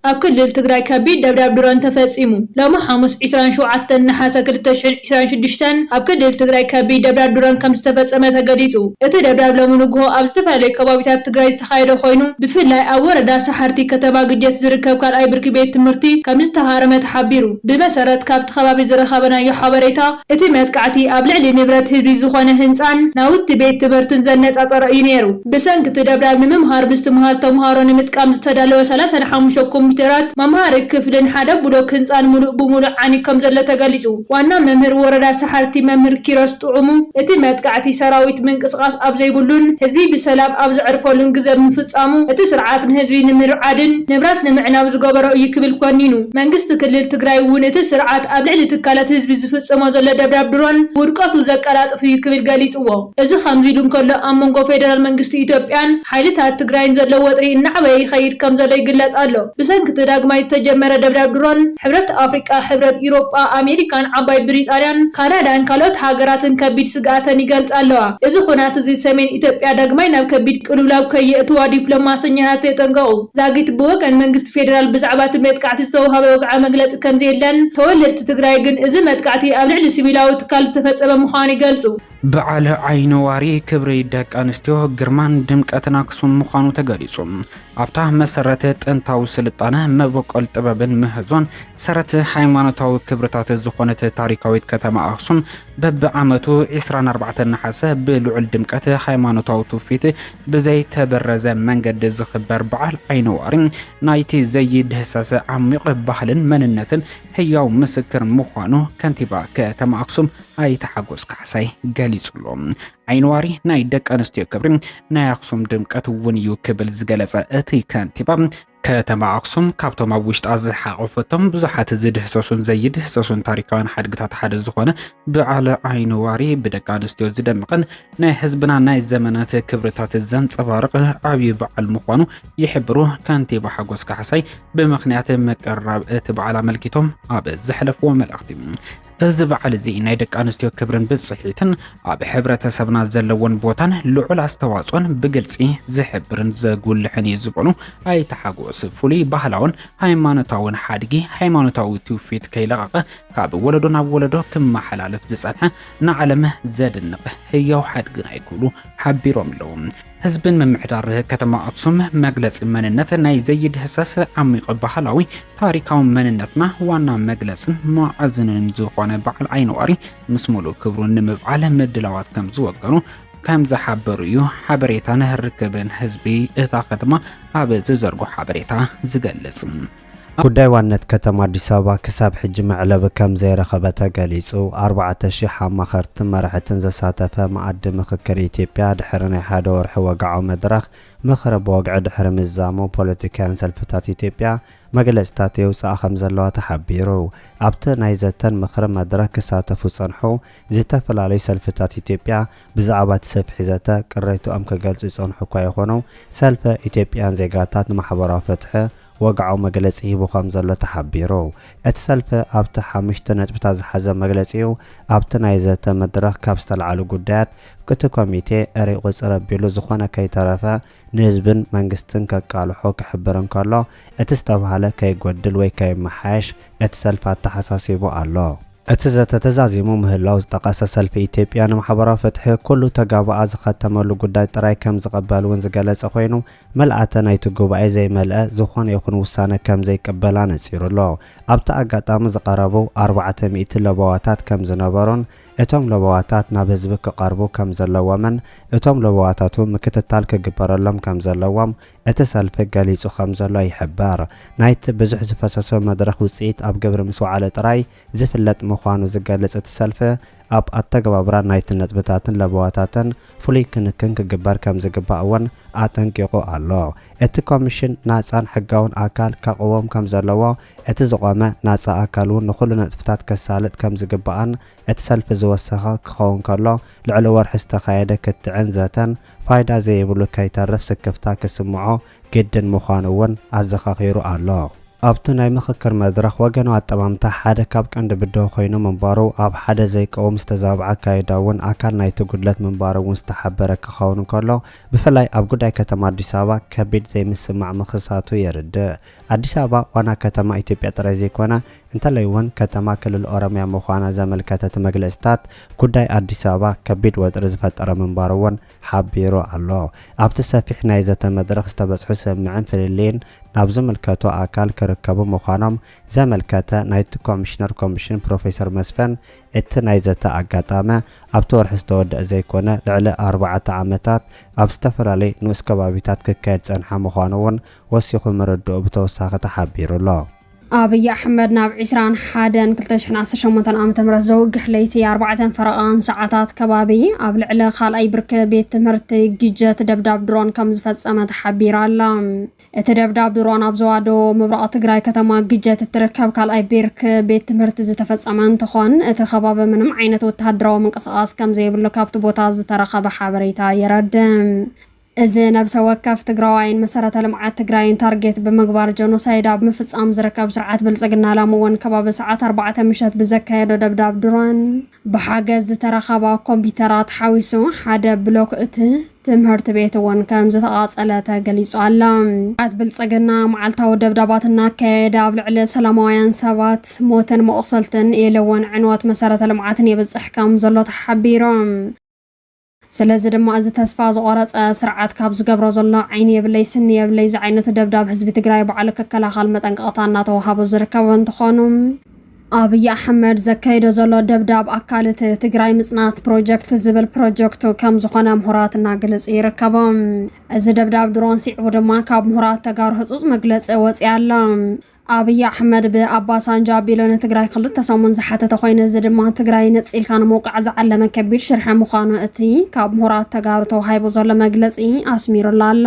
ኣብ ክልል ትግራይ ከቢድ ደብዳብ ድሮን ተፈጺሙ። ሎሚ ሓሙስ ዕስራን ሸውዓተን ነሓሰ ክልተ ሽሕን ዕስራን ሽዱሽተን ኣብ ክልል ትግራይ ከቢድ ደብዳብ ድሮን ከምዝተፈጸመ ተገሊጹ። እቲ ደብዳብ ሎሚ ንጉሆ ኣብ ዝተፈላለዩ ከባቢታት ትግራይ ዝተኻየደ ኮይኑ፣ ብፍላይ ኣብ ወረዳ ሰሓርቲ ከተማ ግጀት ዝርከብ ካልኣይ ብርኪ ቤት ትምህርቲ ከምዝተሃረመ ተሓቢሩ። ብመሰረት ካብቲ ከባቢ ዝረኸበናዮ ሓበሬታ፣ እቲ መጥቃዕቲ ኣብ ልዕሊ ንብረት ህዝቢ ዝኾነ ህንጻን ናውቲ ቤት ትምህርትን ዘነጻጸረ እዩ ነይሩ። ብሰንኪ እቲ ደብዳብ ንምምሃር ብዝትምሃር ተምሃሮ ንምጥቃም ዝተዳለወ ሰላሳን ሓሙሽተ ኮምፒተራት፣ መምሃሪ ክፍልን ሓደ ብሎክ ህንፃን ሙሉእ ብሙሉእ ዓንዩ ከምዘሎ ተገሊፁ። ዋና መምህር ወረዳ ሰሓርቲ መምህር ኪሮስ ጥዑሙ እቲ መጥቃዕቲ ሰራዊት ምንቅስቓስ ኣብ ዘይብሉን ህዝቢ ብሰላም ኣብ ዘዕርፈሉን ግዘ ብምፍፃሙ እቲ ስርዓት ንህዝቢ ንምርዓድን ንብረት ንምዕናው ዝገበሮ እዩ ክብል ኮኒኑ። መንግስቲ ክልል ትግራይ እውን እቲ ስርዓት ኣብ ልዕሊ ትካላት ህዝቢ ዝፍፅሞ ዘሎ ደብዳብ ድሮን ውድቀቱ ዘቀላጥፍ እዩ ክብል ገሊፅዎ። እዚ ከምዚ ኢሉ እንከሎ፣ ኣብ መንጎ ፌደራል መንግስቲ ኢትዮጵያን ሓይልታት ትግራይን ዘሎ ወጥሪ እናዕበየ ይኸይድ ከምዘሎ ይግለጽ ኣሎ። ብሰንኪ'ቲ ዳግማይ ዝተጀመረ ደብዳብ ድሮን፣ ሕብረት ኣፍሪቃ፣ ሕብረት ኤውሮጳ፣ ኣሜሪካን ዓባይ ብሪጣንያን ካናዳን ካልኦት ሃገራትን ከቢድ ስግኣተን ይገልጻ ኣለዋ። እዚ ኹናት'ዚ ሰሜን ኢትዮጵያ ዳግማይ ናብ ከቢድ ቅልውላው ከየእትዋ ዲፕሎማሰኛታት የጠንቀቑ። ዛጊት ብወገን መንግስቲ ፌደራል ብዛዕባ'ቲ መጥቃዕቲ ዝተውሃበ ወግዓዊ መግለጺ ከምዘየለን፣ ተወለድቲ ትግራይ ግን እዚ መጥቃዕቲ ኣብ ልዕሊ ሲቪላዊ ትካል ዝተፈጸመ ምዃኑ ይገልጹ። በዓል ዓይኒዋሪ ክብሪ ደቂ ኣንስትዮ ግርማን ድምቀትን ኣክሱም ምዃኑ ተገሊጹ። ኣብታ መሰረት ጥንታዊ ስልጣነ፣ መበቆል ጥበብን ምህዞን፣ ሰረት ሃይማኖታዊ ክብርታት ዝኾነት ታሪካዊት ከተማ ኣክሱም በብዓመቱ 24 ነሓሰ ብልዑል ድምቀት ሃይማኖታዊ ትውፊት ብዘይተበረዘ መንገዲ ዝኽበር በዓል ዓይኒዋሪ ናይቲ ዘይድህሰሰ ዓሚቕ ባህልን መንነትን ህያው ምስክር ምዃኑ ከንቲባ ከተማ ኣክሱም ኣይተ ሓጎስ ካሕሳይ ገሊፁ'ሎ። ዓይኒዋሪ ናይ ደቂ ኣንስትዮ ክብሪ፣ ናይ ኣኽሱም ድምቀት እውን እዩ ክብል ዝገለፀ እቲ ከንቲባ፣ ከተማ ኣኽሱም ካብቶም ኣብ ውሽጣ ዝሓቖፈቶም ብዙሓት ዝድህሰሱን ዘይድህሰሱን ታሪካውያን ሓድግታት ሓደ ዝኾነ በዓል ዓይኒዋሪ ብደቂ ኣንስትዮ ዝደመቐን ናይ ህዝብና ናይ ዘመናት ክብርታት ዘንፀባርቕ ዓብዪ በዓል ምዃኑ ይሕብሩ ከንቲባ ሓጎስ ካሕሳይ ብምኽንያት ምቅርራብ እቲ በዓል ኣመልኪቶም ኣብ ዘሕለፍዎ መልእኽቲ። እዚ በዓል እዚ ናይ ደቂ ኣንስትዮ ክብርን ብጽሒትን ኣብ ሕብረተሰብና ዘለዎን ቦታን ልዑል ኣስተዋጽኦን ብግልጺ ዝሕብርን ዘጉልሕን እዩ ዝበሉ ኣይተ ሓጎስ ፍሉይ ባህላውን ሃይማኖታውን ሓድጊ ሃይማኖታዊ ትውፊት ከይለቐቐ ካብ ወለዶ ናብ ወለዶ ክመሓላለፍ ዝጸንሐ ንዓለም ዘድንቕ ህያው ሓድግና እዩ ክብሉ ሓቢሮም ኣለዉ። ህዝብን ምምሕዳር ከተማ ኣክሱም መግለፂ መንነት ናይ ዘይድህሰስ ዓሚቕ ባህላዊ ታሪካዊ መንነትና ዋና መግለፅን ማዕዝንን ዝኾነ በዓል ዓይነዋሪ ምስ ሙሉእ ክብሩ ንምብዓል ምድላዋት ከም ዝወገኑ ከም ዝሓበሩ እዩ ሓበሬታን ርክብን ህዝቢ እታ ከተማ ኣብ ዝዘርጎ ሓበሬታ ዝገልጽ። ጉዳይ ዋንነት ከተማ ኣዲስ ኣበባ ክሳብ ሕጂ መዕለቢ ከምዘይረኸበ ተገሊፁ። ኣርባዕተ ሺሕ ኣማኸርትን መራሕትን ዘሳተፈ መኣዲ ምኽክር ኢትዮጵያ ድሕሪ ናይ ሓደ ወርሒ ወግዓዊ መድረኽ ምኽሪ ብወግዒ ድሕሪ ምዝዛሙ ፖለቲካውያን ሰልፍታት ኢትዮጵያ መግለፅታት የውፅኣ ከምዘለዋ ተሓቢሩ። ኣብቲ ናይ ዘተን ምኽርን መድረኽ ክሳተፉ ዝፀንሑ ዝተፈላለዩ ሰልፍታት ኢትዮጵያ ብዛዕባ እቲ ሰፊሕ ዘተ ቅሬትኦም ክገልፁ ይፀንሑ እኳ ይኹኑ ሰልፈ ኢትዮጵያውያን ዜጋታት ንማሕበራዊ ፍትሒ ወግዓዊ መግለጺ ሂቡ ከም ዘሎ ተሓቢሩ። እቲ ሰልፊ ኣብቲ ሓሙሽተ ነጥብታት ዝሓዘ መግለጺኡ፣ ኣብቲ ናይ ዘተ መድረኽ ካብ ዝተልዓሉ ጉዳያት፣ እቲ ኮሚቴ እርይ ቁጽር ኣቢሉ ዝኾነ ከይተረፈ ንህዝብን መንግስትን ከቃልሖ ክሕብር እንከሎ፣ እቲ ዝተባህለ ከይጎድል ወይ ከይመሓየሽ እቲ ሰልፊ ኣተሓሳሲቡ ኣሎ። እቲ ዘተ ተዛዚሙ ምህላዉ ዝጠቐሰ ሰልፊ ኢትዮጵያ ንማሕበራዊ ፍትሒ፣ ኩሉ ተጋባኣ ዝኸተመሉ ጉዳይ ጥራይ ከም ዝቕበል ውን ዝገለጸ ኮይኑ፣ ምልኣተ ናይቲ ጉባኤ ዘይመልአ ዝኾነ ይኹን ውሳነ ከም ዘይቅበል ኣነጺሩ ኣሎ። ኣብቲ ኣጋጣሚ ዝቐረቡ ኣርባዕተ ሚእቲ ለበዋታት ከም ዝነበሩን እቶም ለበዋታት ናብ ህዝቢ ክቐርቡ ከም ዘለዎምን እቶም ለበዋታት እውን ምክትታል ክግበረሎም ከም ዘለዎም እቲ ሰልፊ ገሊጹ ከም ዘሎ ይሕበር። ናይቲ ብዙሕ ዝፈሰሶ መድረኽ ውጽኢት ኣብ ግብሪ ምስ ወዓለ ጥራይ ዝፍለጥ ምዃኑ ዝገልጽ እቲ ሰልፊ፣ ኣብ ኣተገባብራ ናይቲ ነጥብታትን ለበዋታትን ፍሉይ ክንክን ክግበር ከምዝግባእ እውን ኣጠንቂቑ ኣሎ። እቲ ኮሚሽን ናጻን ሕጋውን ኣካል ከቕውም ከምዘለዎ፣ እቲ ዝቖመ ናጻ ኣካል እውን ንኹሉ ነጥብታት ከሳልጥ ከምዝግባእን እቲ ሰልፊ ዝወሰኸ ክኸውን ከሎ ልዕሊ ወርሒ ዝተኻየደ ክትዕን ዘተን ፋይዳ ዘይብሉ ከይተርፍ ስክፍታ ክስምዖ ግድን ምዃኑ እውን ኣዘኻኺሩ ኣሎ። ኣብቲ ናይ ምኽክር መድረኽ ወገናዊ ኣጠማምታ ሓደ ካብ ቀንዲ ብድሆ ኮይኑ ምንባሩ፣ ኣብ ሓደ ዘይቀውም ዝተዛብዐ ኣካይዳ እውን ኣካል ናይቲ ጉድለት ምንባሩ እውን ዝተሓበረ ክኸውን እንከሎ፣ ብፍላይ ኣብ ጉዳይ ከተማ ኣዲስ ኣበባ ከቢድ ዘይምስምማዕ ምኽሳቱ የርድእ። ኣዲስ ኣበባ ዋና ከተማ ኢትዮጵያ ጥራይ ዘይኮነ፣ እንተላይ እውን ከተማ ክልል ኦሮሚያ ምዃና ዘመልከተ እቲ መግለጺታት፣ ጉዳይ ኣዲስ ኣበባ ከቢድ ወጥሪ ዝፈጠረ ምንባሩ እውን ሓቢሩ ኣሎ። ኣብቲ ሰፊሕ ናይ ዘተ መድረኽ ዝተበጽሑ ስምምዕን ፍልልይን ናብ ዝምልከቶ ኣካል ክርከቡ ምዃኖም ዘመልከተ ናይቲ ኮሚሽነር ኮሚሽን ፕሮፌሰር መስፍን፣ እቲ ናይ ዘተ ኣጋጣሚ ኣብቲ ወርሒ ዝተወደኣ ዘይኮነ ልዕሊ ኣርባዕተ ዓመታት ኣብ ዝተፈላለዩ ንኡስ ከባቢታት ክካየድ ዝጸንሐ ምዃኑ'ውን ወሲኹ ምርድኡ ብተወሳኺ ተሓቢሩ'ሎ። ኣብይ ኣሕመድ ናብ ዕስራን ሓደን ክልተ ሽሕን ዓሰርተ ሸሞንተን ዓመተ ምህረት ዘውግሕ ለይቲ ኣርባዕተን ፈረቓን ሰዓታት ከባቢ ኣብ ልዕሊ ካልኣይ ብርኪ ቤት ትምህርቲ ግጀት ደብዳብ ድሮን ከም ዝፈጸመ ተሓቢራ ኣላ። እቲ ደብዳብ ድሮን ኣብ ዞባ ደቡብ ምብራቕ ትግራይ ከተማ ግጀት እትርከብ ካልኣይ ብርኪ ቤት ትምህርቲ ዝተፈጸመ እንትኾን እቲ ከባቢ ምንም ዓይነት ወተሃደራዊ ምንቅስቓስ ከም ዘይብሉ ካብቲ ቦታ ዝተረኸበ ሓበሬታ የረድእ። እዚ ነብሰ ወከፍ ትግራዋይን መሰረተ ልምዓት ትግራይን ታርጌት ብምግባር ጀኖሳይድ ኣብ ምፍፃም ዝርከብ ስርዓት ብልፅግና ላሚ እውን ከባቢ ሰዓት ኣርባዕተ ምሸት ብዘካየዶ ደብዳብ ድሮን ብሓገዝ ዝተረኸባ ኮምፒተራት ሓዊሱ ሓደ ብሎክ እቲ ትምህርት ቤት እውን ከምዝተቓፀለ ተገሊፁ ኣሎ። ስርዓት ብልፅግና መዓልታዊ ደብዳባት እናካየደ ኣብ ልዕሊ ሰላማውያን ሰባት ሞትን መቑሰልትን ኢሉ እውን ዕንወት መሰረተ ልምዓትን የብፅሕ ከም ዘሎ ተሓቢሮም። ስለዚ ድማ እዚ ተስፋ ዝቖረጸ ስርዓት ካብ ዝገብሮ ዘሎ ዓይኒ የብለይ ስኒ የብለይ ዝዓይነቱ ደብዳብ ህዝቢ ትግራይ ባዕሉ ክከላኸል መጠንቀቕታ እናተወሃቦ ዝርከብ እንትኾኑ፣ ኣብይ ኣሕመድ ዘካይዶ ዘሎ ደብዳብ ኣካል እቲ ትግራይ ምፅናት ፕሮጀክት ዝብል ፕሮጀክቱ ከም ዝኾነ ምሁራት እናግልፅ ይርከቡ። እዚ ደብዳብ ድሮን ሲዕቡ ድማ ካብ ምሁራት ተጋሩ ህፁፅ መግለፂ ወፂ ኣሎ። ኣብይ ኣሕመድ ብኣባሳንጃ ኣቢሉ ንትግራይ ክልተ ሰሙን ዝሓተተ ኮይኑ እዚ ድማ ትግራይ ነፂልካ ንምውቃዕ ዝዓለመ ከቢድ ሽርሐ ምዃኑ እቲ ካብ ምሁራት ተጋሩ ተዋሂቡ ዘሎ መግለፂ ኣስሚሩላ ኣሎ።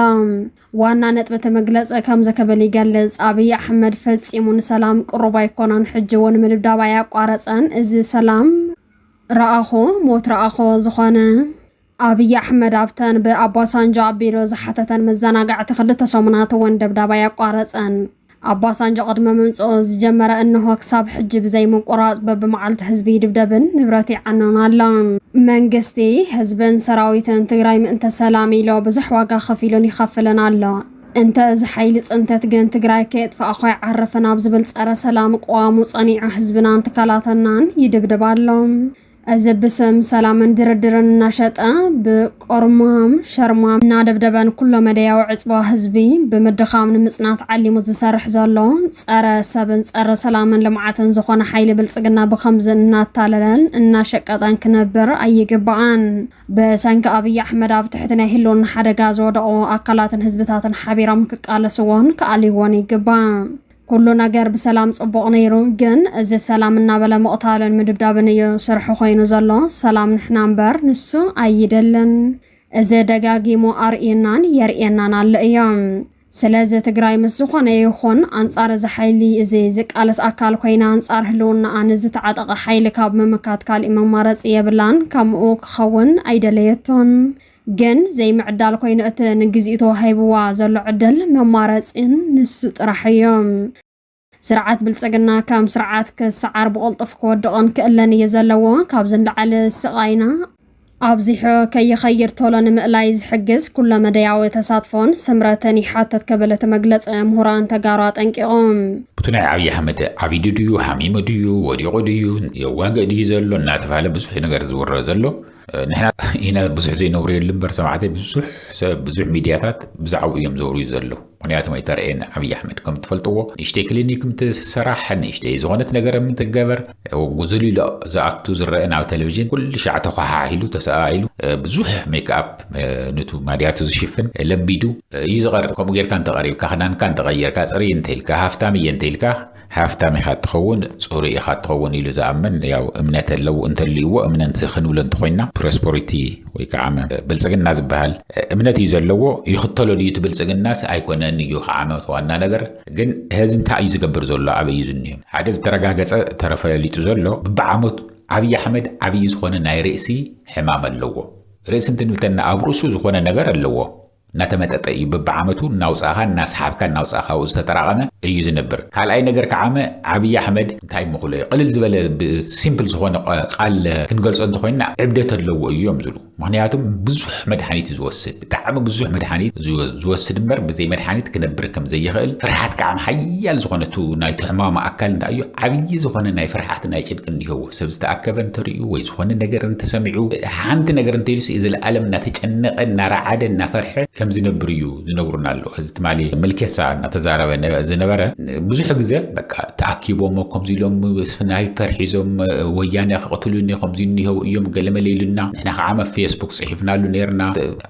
ዋና ነጥቢ እቲ መግለፂ ከምዚ ክብል ይገልፅ። ኣብይ ኣሕመድ ፈፂሙ ንሰላም ቅሩብ ኣይኮነን፣ ሕጂ እውን ምድብዳብ ኣያቋረፀን፣ እዚ ሰላም ረኣኾ ሞት ረኣኾ ዝኾነ ኣብይ ኣሕመድ ኣብተን ብኣባሳንጆ ኣቢሉ ዝሓተተን መዘናግዕቲ ክልተ ሰሙናት እውን ደብዳብ ኣየቋረፀን። ኣባሳንጆ ቅድሚ ምምፅኡ ዝጀመረ እንሆ ክሳብ ሕጂ ብዘይምቁራፅ በቢመዓልቱ ህዝቢ ይድብደብን ንብረት ይዓኖን ኣሎ። መንግስቲ፣ ህዝብን ሰራዊትን ትግራይ ምእንተ ሰላም ኢሎ ብዙሕ ዋጋ ከፊሉን ይኸፍልን ኣሎ። እንተ እዚ ሓይሊ ፅንተት ግን ትግራይ ከየጥፋእኹ ኣይዓርፍን ኣብ ዝብል ፀረ ሰላም ቅዋሙ ፀኒዑ ህዝብናን ትካላትናን ይድብድብ ኣሎ። እዚ ብስም ሰላምን ድርድርን እናሸጠ ብቆርማም ሸርማም እናደብደበን ኩሎ መደያዊ ዕፅዋ ህዝቢ ብምድኻም ንምፅናት ዓሊሙ ዝሰርሕ ዘሎ ፀረ ሰብን ፀረ ሰላምን ልምዓትን ዝኾነ ሓይሊ ብልፅግና ብከምዚ እናታለለን እናሸቀጠን ክነብር ኣይግባኣን። ብሰንኪ ኣብይ ኣሕመድ ኣብ ትሕቲ ናይ ህልውና ሓደጋ ዝወደቑ ኣካላትን ህዝብታትን ሓቢሮም ክቃለስዎን ክኣልይዎን ይግባእ። ኩሉ ነገር ብሰላም ጽቡቕ ነይሩ ግን እዚ ሰላም እናበለ ምቕታልን ምድብዳብን እዩ ስርሑ ኮይኑ ዘሎ ሰላም ንሕና እምበር ንሱ ኣይደልን እዚ ደጋጊሙ ኣርእዩናን የርእየናን ኣሎ እዮ ስለዚ ትግራይ ምስ ዝኾነ ይኹን ኣንጻር እዚ ሓይሊ እዚ ዝቃለስ ኣካል ኮይና ኣንጻር ህልውናኣ ንዝተዓጠቐ ሓይሊ ካብ ምምካት ካሊእ መማረፂ የብላን ከምኡ ክኸውን ኣይደለየቶን ግን ዘይምዕዳል ኮይኑ እቲ ንግዚኡ ተዋሂብዋ ዘሎ ዕድል መማረጺን ንሱ ጥራሕ እዩ። ስርዓት ብልጽግና ከም ስርዓት ክሰዓር ብቕልጡፍ ክወድቕን ክእለን እዩ ዘለዎ። ካብዚ ንላዕሊ ስቓይና ኣብዚሑ ከይኸይድ ቶሎ ንምእላይ ዝሕግዝ ኩለ መደያዊ ተሳትፎን ስምረትን ይሓትት ክብል እቲ መግለጺ ምሁራን ተጋሩ ኣጠንቂቑ። እቲ ናይ ኣብይ ኣሕመድ ዓቢዱ ድዩ፣ ሃሚሙ ድዩ፣ ወዲቑ ድዩ፣ የዋግእ ድዩ ዘሎ እናተብሃለ ብዙሕ ነገር ዝውረ ዘሎ፣ ንሕና ኢና ብዙሕ ዘይነብረየሉ እምበር ሰማዕተይ ብዙሕ ሰብ ብዙሕ ሚድያታት ብዛዕባኡ እዮም ዘውርዩ ዘለዉ ምክንያቱም ኣይተረእየን ዓብዪ ኣሕመድ ከም ትፈልጥዎ ንእሽተይ ክሊኒክ ምትሰራሕ ንእሽተይ ዝኾነት ነገር ምትገበር ጉዝል ኢሉ ዝኣቱ ዝረአ ናብ ቴሌቭዥን ኩሉ ሻዕ ተኳሓሒሉ ተሰኣኢሉ ብዙሕ ሜክኣፕ ንቱ ማድያቱ ዝሽፍን ለቢዱ እዩ ዝቐርብ ከምኡ ጌርካ እንተቐሪብካ ክዳንካ እንተቐየርካ ፅርይ እንተኢልካ ሃፍታም እየ እንተኢልካ ሃፍታም ኢኻ እትኸውን ጽሩይ ኢኻ እትኸውን ኢሉ ዝኣምን ያው እምነት ኣለው እንተልዩዎ እምነንት ክንብሎ እንተኾይና ፕሮስፖሪቲ ወይ ከዓመ ብልጽግና ዝበሃል እምነት እዩ ዘለዎ ይኽተሎ ድዩ እቲ ብልጽግናስ ኣይኮነን እዩ ከዓመ እቲ ዋና ነገር ግን ሀዚ እንታይ እዩ ዝገብር ዘሎ ኣበይ እዩ ዝኒሆ ሓደ ዝተረጋገጸ ተረፈሊጡ ዘሎ ብብዓመቱ ዓብይ ኣሕመድ ዓብይ ዝኾነ ናይ ርእሲ ሕማም ኣለዎ ርእሲ እንትንብተና ኣብ ርእሱ ዝኾነ ነገር ኣለዎ እናተመጠጠ እዩ በብዓመቱ እናውፃእኻ እናሰሓብካ እናውፃእኻ ኣብኡ ዝተጠራቐመ እዩ ዝነብር። ካልኣይ ነገር ከዓመ ዓብይ ኣሕመድ እንታይ ምኹለዩ ቕልል ዝበለ ብ ሲምፕል ዝኾነ ቓል ክንገልፆ እንተኾይንና ዕብደት ኣለዎ እዩ እዮም ዝብሉ። ምኽንያቱ ብዙሕ መድሓኒት እዩ ዝወስድ ብጣዕሚ ብዙሕ መድሓኒት እዩ ዝወስድ እምበር ብዘይ መድሓኒት ክነብር ከም ዘይኽእል ፍርሓት ከዓም ሓያል ዝኾነ እቱ ናይቲ ሕማሙ ኣካል እንታይ እዩ ዓብይ ዝኾነ ናይ ፍርሓት ናይ ጭንቂ እንሄዎ። ሰብ ዝተኣከበ እንተርእዩ ወይ ዝኾነ ነገር እንተሰሚዑ ሓንቲ ነገር እንተኢሉስ ዘለኣለም እናተጨነቐ እናረዓደ እናፈርሐ ከም ዝነብር እዩ ዝነግሩና ኣሎ። እዚ ትማሊ ምልኬሳ እናተዛረበ ዝነበረ ብዙሕ ግዘ በቃ ተኣኪቦም ከምዚ ኢሎም ስናይፐር ሒዞም ወያነ ከቕትሉኒ ከምዚ እኒሀው እዮም ገለመለ ኢሉና ንሕና ከዓ ኣብ ፌስቡክ ፅሒፍናሉ ነይርና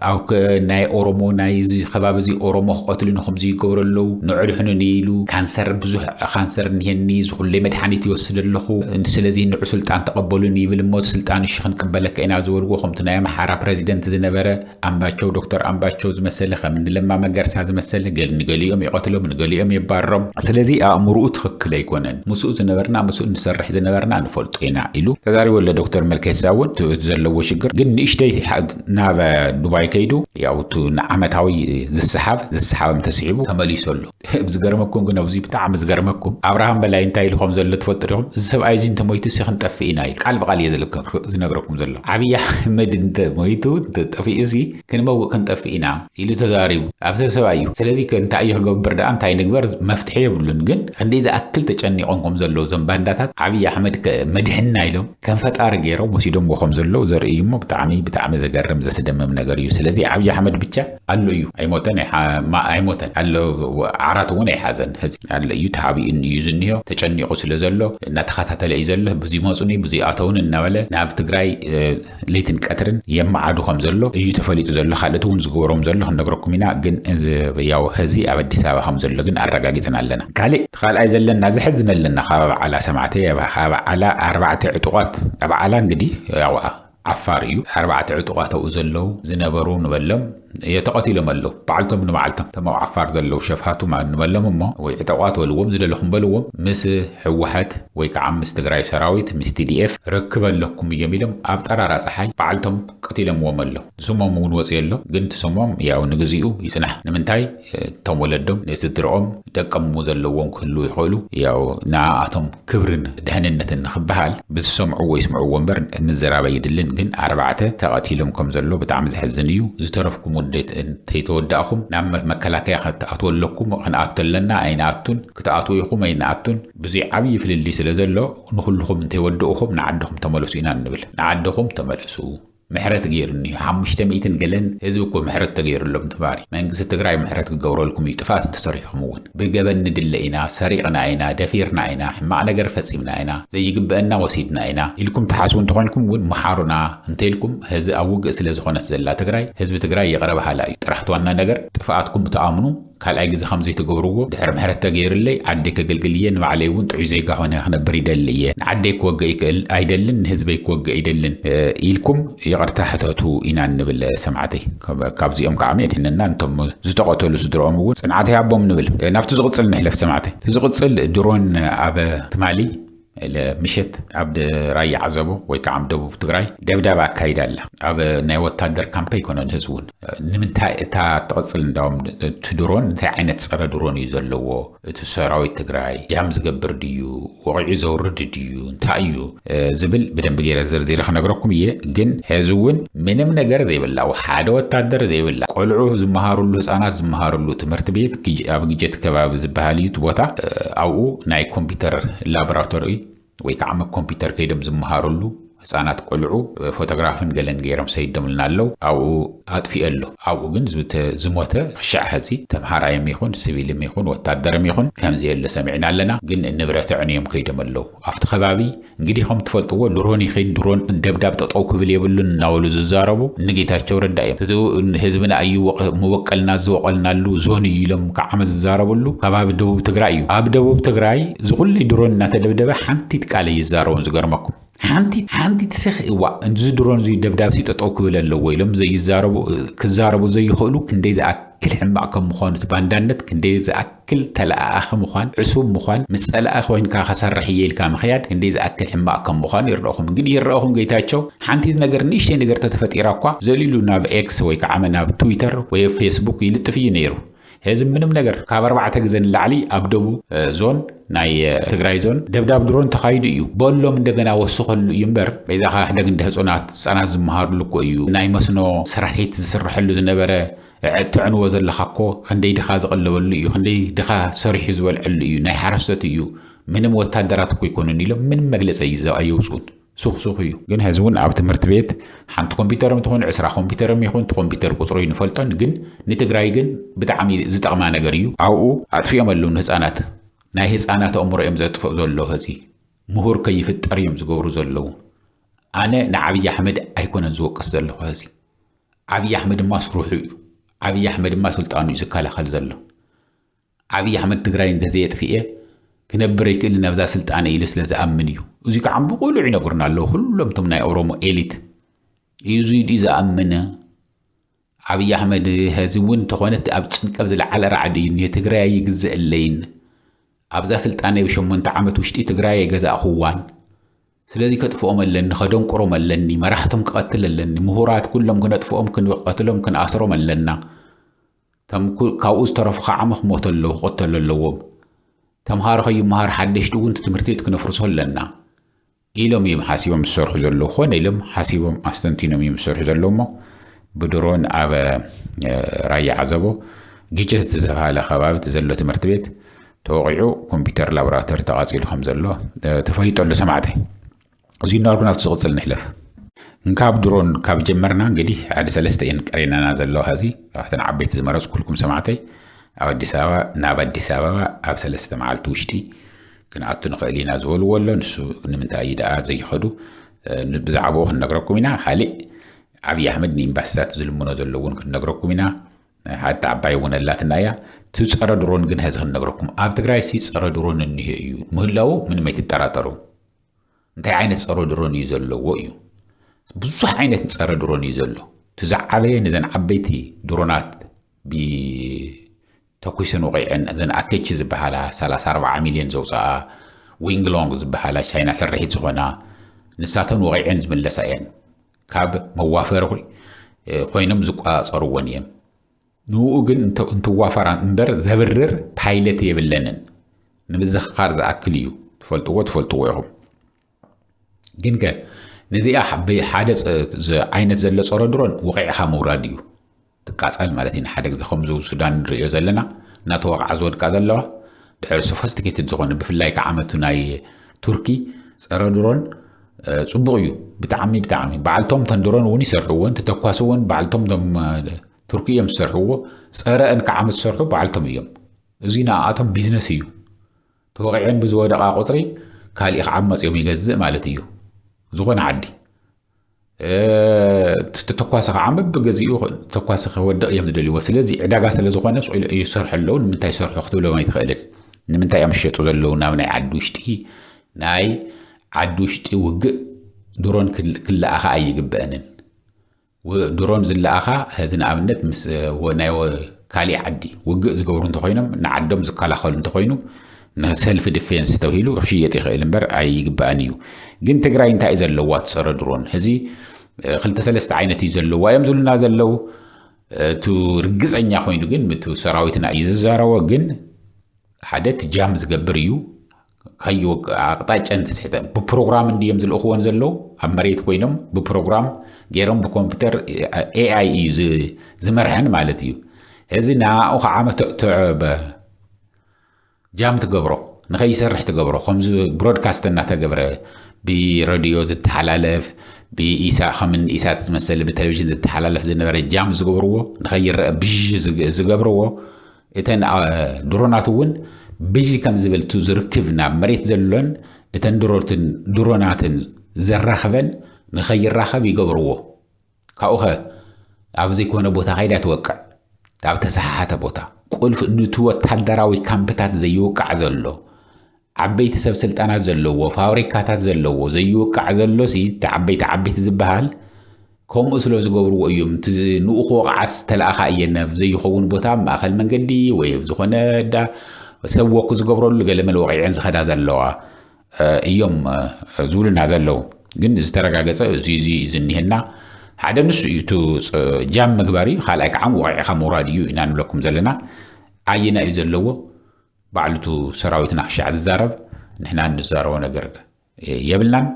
ኣብከ ናይ ኦሮሞ ናይ እዚ ከባቢ እዚ ኦሮሞ ክቀትሉ ን ከምዚ ይገብሩ ኣለዉ ን ዕድሕኑኒ ኢሉ ካንሰር ብዙሕ ካንሰር እኒሀኒ እዚ ኩለይ መድሓኒት ይወስድ ኣለኩ ስለዚ ንዑ ስልጣን ተቀበሉኒ ይብል እሞ እቲ ስልጣን እሺ ክንቅበለካ ኢና ዝበልዎ ከምቱ ናይ ኣምሓራ ፕረዚደንት ዝነበረ ኣምባቸው ዶክተር ኣምባቸው ዝመሰለ ከም ን ለማ መገርሳ ዝመሰለ ገል ንገሊኦም ይቀትሎም ንገሊኦም የባርሮም ስለዚ ኣእምሩኡ ትክክል ኣይኮነን ምስኡ ዝነበርና ምስኡ ንሰርሕ ዝነበርና ንፈልጦ ኢና ኢሉ ተዛሪቡ ኣሎ ዶክተር መልኬሳ እውን እቲ ዘለዎ ሽግር ግን ንእሽተይ ናብ ዱባይ ከይዱ ያው እቲ ንዓመታዊ ዝሰሓብ ዝሰሓብም ተሲሒቡ ተመሊሱ ኣሎ። ዝገርመኩም ግን ኣብዚ ብጣዕሚ ዝገርመኩም ኣብርሃም በላይ እንታይ ኢሉ ከም ዘሎ ትፈልጡ ዲኹም? እዚ ሰብኣይ እዚ እንተሞይቱሲ ክንጠፍእ ኢና ኢሉ ቃል ብቓል እየ ዝነግረኩም ዘሎ። ዓብይ ኣሕመድ እንተ ሞይቱ እንተ ጠፊኡሲ ክንመውእ ክንጠፍእ ኢና ኢሉ ተዛሪቡ። ኣብ ሰብ ሰብኣይ እዩ። ስለዚ ከ እንታይ እዩ ክገብር ደኣ እንታይ ንግበር መፍትሒ የብሉን። ግን ክንደይ ዝኣክል ተጨኒቖም ከም ዘለዉ እዞም ባንዳታት ዓብይ ኣሕመድ ከ መድሕንና ኢሎም። ከም ፈጣሪ ገይሮም ወሲዶምዎ ከም ዘለዉ ዘርኢ እዩ እሞ ብጣዕሚ ብጣዕሚ ዘገርም ዘስደምም ነገር እዩ ስለዚ ዓብዪ ኣሕመድ ብቻ ኣሎ እዩ ኣይሞተን ኣይሞተን ኣሎ ዓራት እውን ኣይሓዘን ሕዚ ኣሎ እዩ ተሓቢኡ እዩ ዝኒሆ ተጨኒቑ ስለ ዘሎ እናተኸታተለ እዩ ዘሎ ብዙይ መፁኒ ብዙይ ኣተውን እናበለ ናብ ትግራይ ለይትን ቀትርን የመዓዱ ከም ዘሎ እዩ ተፈሊጡ ዘሎ ካልእት እውን ዝገበሮም ዘሎ ክንነግረኩም ኢና ግን ያው ሕዚ ኣብ ኣዲስ ኣበባ ከም ዘሎ ግን ኣረጋጊፅና ኣለና ካልእ እቲ ካልኣይ ዘለና ዘሕዝነልና ካብ ኣብዓላ ሰማዕቲ ካብ ዓላ ኣርባዕተ ዕጡቓት ኣብዓላ እንግዲ ያው ዓፋር እዩ ኣርባዕተ ዕጡቓት ኣብኡ ዘለው ዝነበሩ ንበሎም የተቐቲሎም ኣለው ባዕልቶም ንባዕልቶም እቶም ኣብ ዓፋር ዘለው ሸፋቱ ንበሎም እሞ ወይ ዕጠቋት በልዎም ዝደለኹም በልዎም ምስ ሕወሓት ወይ ከዓ ምስ ትግራይ ሰራዊት ምስ ቲዲኤፍ ርክብ ኣለኩም እዮም ኢሎም ኣብ ጠራራ ፀሓይ ባዕልቶም ቀቲሎምዎም ኣለው ስሞም እውን ወፂኡ ኣሎ ግን እቲ ስሞም ያው ንግዚኡ ይፅናሕ ንምንታይ እቶም ወለዶም ንስድርኦም ደቆም እሞ ዘለዎም ክህልዉ ይኽእሉ ያው ንዓኣቶም ክብርን ድሕንነትን ንኽበሃል ብዝሰምዕዎ ይስምዕዎ እምበር ምዝራብ ኣይድልን ግን ኣርባዕተ ተቐቲሎም ከም ዘሎ ብጣዕሚ ዘሕዝን እዩ ዝተረፍኩም ውን እንተይተወዳእኹም ናብ መከላከያ ክትኣትዉ ኣለኩም ክንኣቱ ኣለና ኣይንኣቱን ክትኣትዉ ኢኹም ኣይንኣቱን ብዙይ ዓብይ ፍልልይ ስለ ዘሎ ንኹልኹም እንተይወደኡኹም ንዓድኹም ተመለሱ ኢና እንብል ንዓድኹም ተመለሱ። ምሕረት ገይሩኒ እዩ ሓሙሽተ ሚእትን ገለን ህዝቢ እኮ ምሕረት ተገይሩሎም ተማሪ መንግስቲ ትግራይ ምሕረት ክገብረልኩም እዩ ጥፍኣት እንተሰሪሕኹም እውን ብገበን ንድለ ኢና ሰሪቕና ኢና ደፊርና ኢና ሕማቕ ነገር ፈፂምና ኢና ዘይግበእና ወሲድና ኢና ኢልኩም ትሓስቡ እንተኾንኩም እውን ምሓሩና እንተኢልኩም ሀዚ ኣብ ውግእ ስለዝኾነት ዘላ ትግራይ ህዝቢ ትግራይ ይቕረ በሃላይ እዩ ጥራሕ ትዋና ነገር ጥፍኣትኩም ብትኣምኑ ካልኣይ ግዜ ከምዚ ኣይትገብርዎ ድሕሪ ምሕረት ተገይርለይ ዓደይ ከገልግል እየ ንባዕለይ እውን ጥዑይ ዜጋ ኮይነ ክነብር ይደሊ እየ ንዓደይ ክወግእ ኣይደልን ንህዝበይ ክወግእ ኣይደልን ኢልኩም ይቅርታ ሕተቱ ኢና እንብል ሰማዕተይ ካብዚኦም ከዓ የድሕነና ንቶም ዝተቀተሉ ስድርኦም እውን ፅንዓት ይሃቦም ንብል ናብቲ ዝቅፅል ንሕለፍ ሰማዕተይ እቲ ዝቅፅል ድሮን ኣብ ትማሊ ምሸት ኣብ ራያ ዓዘቦ ወይ ከዓ ኣብ ደቡብ ትግራይ ደብዳብ ኣካይዳ ኣላ ኣብ ናይ ወታደር ካምፕ ኣይኮነን ህዝቡን ንምንታይ እታ ትቕፅል እንዳውም እቲ ድሮን እንታይ ዓይነት ፀረ ድሮን እዩ ዘለዎ እቲ ሰራዊት ትግራይ ጃም ዝገብር ድዩ ወቂዑ ዘውርድ ድዩ እንታይ እዩ ዝብል ብደንብ ገይረ ዘርዚረ ክነግረኩም እየ ግን ሕዚ እውን ምንም ነገር ዘይብላ ሓደ ወታደር ዘይብላ ቆልዑ ዝመሃርሉ ህፃናት ዝመሃርሉ ትምህርቲ ቤት ኣብ ግጀት ከባቢ ዝበሃል እዩ እቲ ቦታ ኣብኡ ናይ ኮምፒውተር ላቦራቶሪ ወይ ከዓ መ ኮምፒውተር ከይዶም ዝመሃርሉ ህፃናት ቆልዑ ፎቶግራፍን ገለን ገይሮም ሰይዶምልና ኣለው ኣብኡ ኣጥፊኦ ኣሎ ኣብኡ ግን ዝሞተ ክሻዕ ሐዚ ተምሃራይም ይኹን ስቪልም ይኹን ወታደርም ይኹን ከምዘየለ ሰሚዕና ኣለና ግን ንብረት ኣዕንዮም ከይዶም ኣለው ኣብቲ ከባቢ እንግዲህ ከምትፈልጥዎ ድሮን ይኺድ ድሮን ደብዳብ ጠጠው ክብል የብሉን እናበሉ ዝዛረቡ ንጌታቸው ረዳ እዮም። እቲ ህዝብና እዩ መበቀልና ዝወቀልናሉ ዞን እዩ ኢሎም ካብ ዓመት ዝዛረብሉ ከባቢ ደቡብ ትግራይ እዩ። ኣብ ደቡብ ትግራይ ዝኹሉ ድሮን እናተደብደበ ሓንቲት ቃል ኣይዛረቡን ዝገርመኩም ሓንቲት ሓንቲት ስኽ እዋእ እዚ ድሮን እዙይ ደብዳብሲ ጠጠው ክብል ኣለዎ ኢሎም ዘይዛረቡ ክዛረቡ ዘይኽእሉ ክንደይ ዝኣ ክል ሕማቅ ከም ምዃኑ እቲ ባንዳነት ክንደይ ዝኣ ክል ተለኣኣኺ ምዃን፣ ዕሱብ ምዃን፣ ምስ ጸላኢ ኮይንካ ከሰርሕ እየ ኢልካ ምኽያድ ክንደይ ዝኣክል ሕማቕ ከም ምዃኑ ይርደኹም። ግን ይረኣኹም ገይታቸው ሓንቲት ነገር ንእሽተይ ነገር ተተፈጢራ እኳ ዘሊሉ ናብ ኤክስ ወይ ከዓመ ናብ ትዊተር ወይ ኣብ ፌስቡክ ይልጥፍ እዩ ነይሩ። ሔዚ ምንም ነገር። ካብ ኣርባዕተ ግዘ ንላዕሊ ኣብ ደቡብ ዞን ናይ ትግራይ ዞን ደብዳብ ድሮን ተኻይዱ እዩ። በሎም እንደገና ወስኸሉ እዩ እምበር በይዛኻ ሕደግ እንደ ህጹናት ህጻናት ዝመሃርሉ እኮ እዩ ናይ መስኖ ስራሒት ዝስረሐሉ ዝነበረ። እተዕንዎ ዘለኻ እኮ ክንደይ ድኻ ዝቕለበሉ እዩ ክንደይ ድኻ ሰሪሑ ዝበልዐሉ እዩ ናይ ሓረስቶት እዩ ምንም ወታደራት እኮ ኣይኮኑን ኢሎም ምንም መግለፂ ኣየውፅኡን ሱኽ ሱኽ እዩ። ግን ሐዚ እውን ኣብ ትምህርቲ ቤት ሓንቲ ኮምፒተርም ትኹን ዕስራ ኮምፒተርም ይኹን እቲ ኮምፒተር ቁፅሩ ኣይንፈልጦን ግን ንትግራይ ግን ብጣዕሚ ዝጠቕማ ነገር እዩ ኣብኡ ኣጥፊኦም ኣለው ንህፃናት ናይ ህፃናት ኣእምሮ እዮም ዘጥፍኡ ዘለው ሐዚ ምሁር ከይፍጠር እዮም ዝገብሩ ዘለው ኣነ ንዓብይ ኣሕመድ ኣይኮነን ዝወቅስ ዘለኹ ሐዚ ዓብይ ኣሕመድ እማ ስሩሑ እዩ ዓብይ ኣሕመድ እማ ስልጣኑ እዩ ዝከላኸል ዘሎ ዓብይ ኣሕመድ ትግራይ እንተዘየጥፍኤ ክነብር ኣይክእልን ኣብዛ ስልጣነ ኢሉ ስለ ዝኣምን እዩ እዙይ ከዓ ብቁሉዕ ይነግሩና ኣለዉ ኩሎም እቶም ናይ ኦሮሞ ኤሊት እዙይ ድዩ ዝኣምነ ዓብይ ኣሕመድ ሀዚ እውን ተኾነት ኣብ ጭንቀብ ዝለዓለ ራዕዲ እዩ እኒሄ ትግራይ ኣይግዘእለይን ኣብዛ ስልጣነ ብሸሞንተ ዓመት ውሽጢ ትግራይ ኣይገዛእኹዋን ስለዚ ከጥፍኦም ኣለኒ ከደንቁሮም ኣለኒ መራሕቶም ክቐትል ኣለኒ ምሁራት ኩሎም ክነጥፍኦም ክንቐትሎም ክንኣስሮም ኣለና ተም ካብኡ ዝተረፉ ከዓ ምክሞቱ ኣለዉ ክቕተሉ ኣለዎም ተምሃሮ ከይመሃር ሓደሽቲ እውን ትምህርቲ ቤት ክነፍርሶ ኣለና ኢሎም እዮም ሓሲቦም ዝሰርሑ ዘለዉ ኮነ ኢሎም ሓሲቦም ኣስተንቲኖም እዮም ዝሰርሑ ዘለዉ እሞ ብድሮን ኣብ ራያ ዓዘቦ ግጭት ዝተባሃለ ከባቢ ዘሎ ትምህርቲ ቤት ተወቒዑ ኮምፒተር ላቦራቶሪ ተቓፂሉ ከም ዘሎ ተፈሊጡ ኣሎ ሰማዕተይ። እዙይ እናበልኩ ናብቲ ዝቕፅል ንሕለፍ። እንካብ ድሮን ካብ ጀመርና እንግዲህ ሓደ ሰለስተ እየን ቀሪነና ዘለዋ ኸዚ ካብተን ዓበይቲ ዝመረፅኩልኩም ሰማዕተይ ኣብ ኣዲስ ኣበባ ናብ ኣዲስ ኣበባ ኣብ ሰለስተ መዓልቲ ውሽጢ ክንኣቱ ንኽእል ኢና ዝበልዎ ኣሎ ንሱ ንምንታይ እዩ ደኣ ዘይኸዱ ብዛዕባኡ ክንነግረኩም ኢና ካሊእ ዓብዪ ኣሕመድ ንኤምባሲታት ዝልምኖ ዘሎ እውን ክንነግረኩም ኢና ናይ ሓንቲ ዓባይ እውን ኣላትና እያ እቲ ፀረ ድሮን ግን ሐዚ ክንነግረኩም ኣብ ትግራይ ሲ ፀረ ድሮን እኒሀ እዩ ምህላዉ ምንም ኣይትጠራጠሩ እንታይ ዓይነት ፀረ ድሮን እዩ ዘለዎ እዩ ብዙሕ ዓይነት ፀረ ድሮን እዩ ዘሎ እቲ ዝዓበየ ንዘን ዓበይቲ ድሮናት ተኩስን ወቂዕን እዘን ኣኬቺ ዝበሃላ 34 ሚልዮን ዘውፅኣ ዊንግሎንግ ዝበሃላ ቻይና ስርሒት ዝኾና ንሳተን ወቂዕን ዝምለሳ እየን ካብ መዋፈሪ ኮይኖም ዝቆፃፀርዎን እየም። ንኡ ግን እንትዋፈራ እምበር ዘብርር ፓይለት የብለንን። ንምዝኽኻር ዝኣክል እዩ። ትፈልጥዎ ትፈልጥዎ ኢኹም። ግን ከ ነዚኣ ብሓደ ዓይነት ዘሎ ፀረ ድሮን ወቂዕኻ ምውራድ እዩ። ትቃጻል ማለት እዩ ንሓደ ግዜ ከምዚ ብ ሱዳን ንርእዮ ዘለና እናተወቕዓ ዝወድቃ ዘለዋ ድሕሪ ሶፈስቲኬትድ ዝኾነ ብፍላይ ከዓ ዓመቱ ናይ ቱርኪ ጸረ ድሮን ጽቡቕ እዩ ብጣዕሚ ብጣዕሚ በዓልቶም ተን ድሮን እውን ይሰርሕዎን ተተኳስዎን በዓልቶም ቶም ቱርኪ እዮም ዝሰርሕዎ ጸረ እን ከዓመት ዝሰርሑ በዓልቶም እዮም እዙይ ንኣኣቶም ቢዝነስ እዩ ተወቂዐን ብዝወደቓ ቁፅሪ ካሊእ ክዓመፅ እዮም ይገዝእ ማለት እዩ ዝኾነ ዓዲ እቲ ተተኳሲ ከዓ በብገዚኡ ተኳሲ ከወድቕ እዮም ዝደልይዎ ስለዚ ዕዳጋ ስለ ዝኾነ ስኢሉ ይሰርሑ ኣለዉ ንምንታይ ይሰርሑ ክትብሎም ኣይትኽእልን ንምንታይ እዮም ዝሸጡ ዘለዉ ናብ ናይ ዓዲ ውሽጢ ናይ ዓዲ ውሽጢ ውግእ ድሮን ክለኣኻ ኣይግበአንን ድሮን ዝለኣኻ እዚ ንኣብነት ምስ ናይ ካሊእ ዓዲ ውግእ ዝገብሩ እንተኾይኖም ንዓዶም ዝከላኸሉ እንተኾይኑ ንሰልፍ ድፌንስ ተብሂሉ ክሽየጥ ይኽእል እምበር ኣይግባእን እዩ ግን ትግራይ እንታይ እዩ ዘለዋ ትፀረ ድሮን ሕዚ ክልተ ሰለስተ ዓይነት እዩ ዘለዋ እዮም ዝብሉና ዘለው እቱ ርግፀኛ ኮይኑ ግን ምቱ ሰራዊትና እዩ ዝዛረቦ ግን ሓደ እቲ ጃም ዝገብር እዩ ካዮ ኣቕጣጫን ተስሕተ ብፕሮግራም እንድዮም ዝልእኽዎን ዘለዉ ኣብ መሬት ኮይኖም ብፕሮግራም ገይሮም ብኮምፒውተር ኤኣይ እዩ ዝመርሐን ማለት እዩ እዚ ንኣኡ ከዓ መተእተዐበ ጃም ትገብሮ ንከይሰርሕ ትገብሮ ከምዚ ብሮድካስት እናተገብረ ብረድዮ ዝተሓላለፍ ብኢሳ ከምን ኢሳት ዝመሰለ ብቴሌቭዥን ዝተሓላለፍ ዝነበረ ጃም ዝገብርዎ ንከይረአ ብዥ ዝገብርዎ እተን ድሮናት እውን ብዥ ከም ዝብል እቲ ዝርክብ ናብ መሬት ዘሎን እተን ድሮናትን ዘራኽበን ንከይራኸብ ይገብርዎ ካብኡኸ ኣብ ዘይኮነ ቦታ ከይዳ ኣይትወቅዕ። ኣብ ተሰሓሓተ ቦታ፣ ቁልፍ ኑቲ ወታደራዊ ካምፕታት ዘይውቃዕ ዘሎ፣ ዓበይቲ ሰብ ስልጣናት ዘለዎ፣ ፋብሪካታት ዘለዎ ዘይውቃዕ ዘሎሲ እቲ ዓበይቲ ዓበይቲ ዝበሃል ከምኡ ስለ ዝገብርዎ እዮም እቲ ንኡኽ ወቕዓስ ተለኣኻ እየን ኣብ ዘይኸውን ቦታ ኣብ ማእኸል መንገዲ ወይ ኣብ ዝኾነ እዳ ሰብ ወክ ዝገብረሉ ገለመል ወቒዐን ዝኸዳ ዘለዋ እዮም ዝብሉና ዘለዉ ግን ዝተረጋገፀ እዚ እዚ ዝኒሀና ሓደ ንሱ እዩ እቲ ጃም ምግባር እዩ ካልኣይ ከዓ ወቂዕካ ምውራድ እዩ ኢና ንብለኩም ዘለና ኣየና እዩ ዘለዎ ባዕሉ እቲ ሰራዊትና ክሻዕ ዝዛረብ ንሕና እንዛረቦ ነገር የብልናን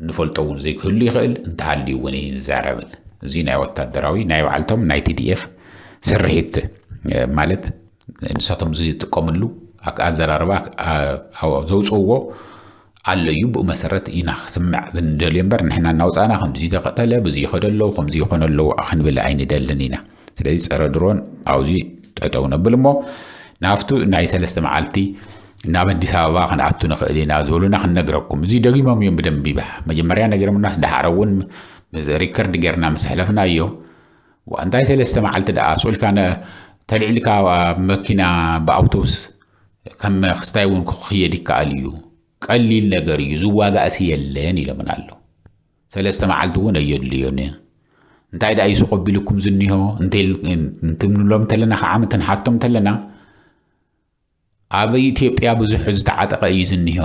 ንፈልጦ እውን ዘይክህሉ ይኽእል እንተሃልዩ እውን ይንዛረብን እዚ ናይ ወታደራዊ ናይ ባዕልቶም ናይ ቲዲኤፍ ስርሒት ማለት ንሳቶም ዝጥቀምሉ ኣዘራርባ ዘውፅእዎ ኣሎ እዩ ብኡ መሰረት ኢና ክስምዕ ዝንደልዮ እምበር ንሕና እናውፃእና ከምዚ ተቀተለ ብዙ ይኸደ ኣለዉ ከምዚ ይኾነ ኣለዉ ክንብል ኣይንደልን ኢና ስለዚ ፀረ ድሮን ኣብዚ ጠጠው ነብል እሞ ናብቱ ናይ ሰለስተ መዓልቲ ናብ ኣዲስ ኣበባ ክንኣቱ ንኽእል ኢና ዝበሉና ክንነግረኩም እዚ ደጊሞም እዮም ብደንቢ መጀመርያ ነጊሮምናስ ደሓር እውን ሪከርድ ጌርና ምስ ሕለፍናዮ ዋእ እንታይ ሰለስተ መዓልቲ ደኣ ኣስቁልካ ተልዒልካ ኣብ መኪና ብኣውቶቡስ ከም ክስታይ እውን ክኽየድ ይከኣል እዩ ቀሊል ነገር እዩ ዝዋጋእሲ የለን ኢሎምን ኣሎ ሰለስተ መዓልቲ እውን ኣየድልዮን እንታይ ደኣ ይሱቕ ኣቢልኩም ዝኒሆ እንትብንሎም እንተለና ከዓም ትንሓቶም እንተለና ኣብ ኢትዮጵያ ብዙሕ ዝተዓጠቐ እዩ ዝኒሆ።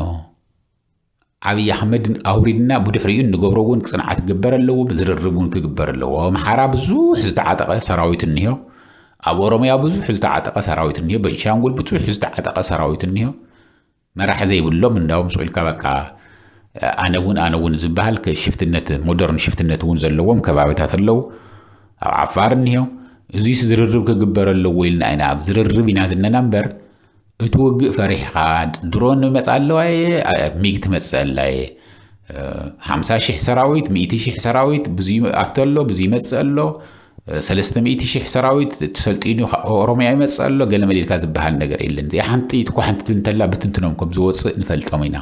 ዓብይ ኣሕመድ ኣውሪድና ብድሕሪኡ እንገብሮ እውን ፅንዓት ክግበር ኣለዎ፣ ብዝርርብ እውን ክግበር ኣለዎ። ኣብ ኣምሓራ ብዙሕ ዝተዓጠቐ ሰራዊት እኒሆ፣ ኣብ ኦሮሚያ ብዙሕ ዝተዓጠቐ ሰራዊት እኒሆ፣ በንሻንጉል ብዙሕ ዝተዓጠቐ ሰራዊት እኒሆ። መራሒ ዘይብሎም እንዳውም ስቕ ኢልካ በቃ ኣነ እውን ኣነ እውን ዝበሃል ሽፍትነት ሞደርን ሽፍትነት እውን ዘለዎም ከባቢታት ኣለዉ። ኣብ ዓፋር እኒሀ እዙይስ ዝርርብ ክግበር ኣለዎ ኢልና ኢና ኣብ ዝርርብ ኢና ዝለና እምበር እቲ ውግእ ፈሪሕኻ ድሮን ይመፅእ ኣለዋ እየ ሚግ ትመፅእ ኣላ እየ ሓምሳ ሽሕ ሰራዊት ሚእቲ ሽሕ ሰራዊት ብዙ ኣቶ ኣሎ ብዙ ይመፅእ ኣሎ ሰለስተ ሚእቲ ሽሕ ሰራዊት ተሰልጢኑ ኦሮሚያ ይመፅእ ኣሎ ገለ መሊልካ ዝበሃል ነገር የለን እዚኣ ሓንቲ ትኳሓንቲ ትብል እንተላ ብትንትኖም ከም ዝወፅእ ንፈልጦም ኢና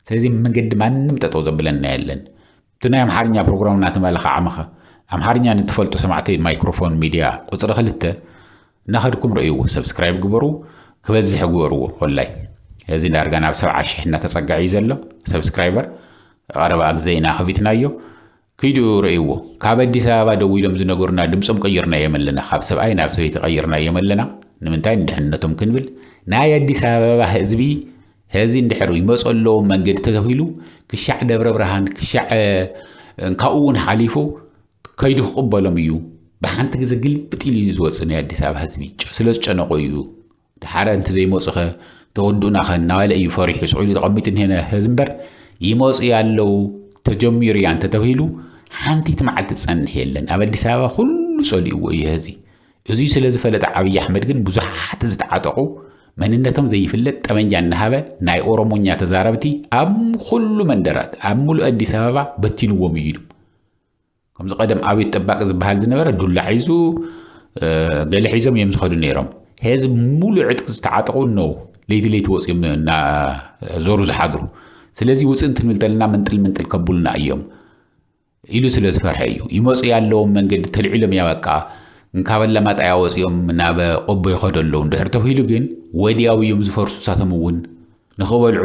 ስለዚ መገዲ ማንም ጠጠው ዘብለና የለን እቲ ናይ ኣምሓርኛ ፕሮግራም እናተመለኸ ዓመኸ ኣምሓርኛ ንትፈልጡ ሰማዕተይ ማይክሮፎን ሚድያ ቁፅሪ ክልተ እናኸድኩም ረእይዎ ሰብስክራይብ ግበሩ ክበዝሕ ግበርዎ ኮላይ እዚ ዳርጋ ናብ ሰብዓ ሽሕ እናተፀግዐ እዩ ዘሎ ሰብስክራይበር ቀረባ ግዘ ኢና ከፊትናዮ ኪዱ ረእይዎ ካብ ኣዲስ ኣበባ ደዊሎም ዝነገሩና ድምጾም ቀይርናዮም ኣለና ካብ ሰብኣይ ናብ ሰበይቲ ቀይርናዮም ኣለና ንምንታይ ንድሕንነቶም ክንብል ናይ ኣዲስ ኣበባ ህዝቢ ሀዚ እንድሕር ይመፁ ኣለዎም መንገዲ ተተኺሉ ክሻዕ ደብረ ብርሃን ክሻዕ ካብኡ እውን ሓሊፉ ከይዱ ክቕበሎም እዩ ብሓንቲ ግዜ ግልብጥ ኢሉ እዩ ዝወፅእ ናይ ኣዲስ ኣበባ ህዝቢ ስለ ዝጨነቆ እዩ ድሓረ እንተዘይመጹኸ ተወዱእናኸ እናበለ እዩ ፈሪሑ ስዑዲ ተቐሚጡ እኒሀ ነዚ እምበር ይመጹ ያለው ተጀሚሩ እያ እንተተብሂሉ ሓንቲት መዓልቲ ትጸንሕ የለን ኣብ ኣዲስ ኣበባ ኩሉ ጸሊእዎ እዩ ህዚ እዙይ ስለ ዝፈለጠ ዓብዪ ኣሕመድ ግን ብዙሓት ዝተዓጠቑ መንነቶም ዘይፍለጥ ጠመንጃ እናሃበ ናይ ኦሮሞኛ ተዛረብቲ ኣብ ኩሉ መንደራት ኣብ ሙሉእ ኣዲስ ኣበባ በቲንዎም እዩ ኢሉ ከምዚ ቀደም ኣቤት ጠባቂ ዝበሃል ዝነበረ ዱላ ሒዙ ገለ ሒዞም እዮም ዝኸዱ ነይሮም ሄዚ ሙሉእ ዕጥቂ ዝተዓጠቑ ነው ለይቲ ለይቲ ወፅኦም እና ዞሩ ዝሓድሩ ስለዚ ውፅእ እንትንብል ተለና ምንጥል ምንጥል ከብሉና እዮም ኢሉ ስለ ዝፈርሐ እዩ ይመፁ ያለዎም መንገዲ ተልዒሎም እያ በቃ እንካብ ኣላማጣ እያ ወፂኦም ናብ ቆቦ ይኸዱ ኣለዉ እንድሕር ተብሂሉ ግን ወዲያው እዮም ዝፈርሱ እሳቶም እውን ንኽበልዑ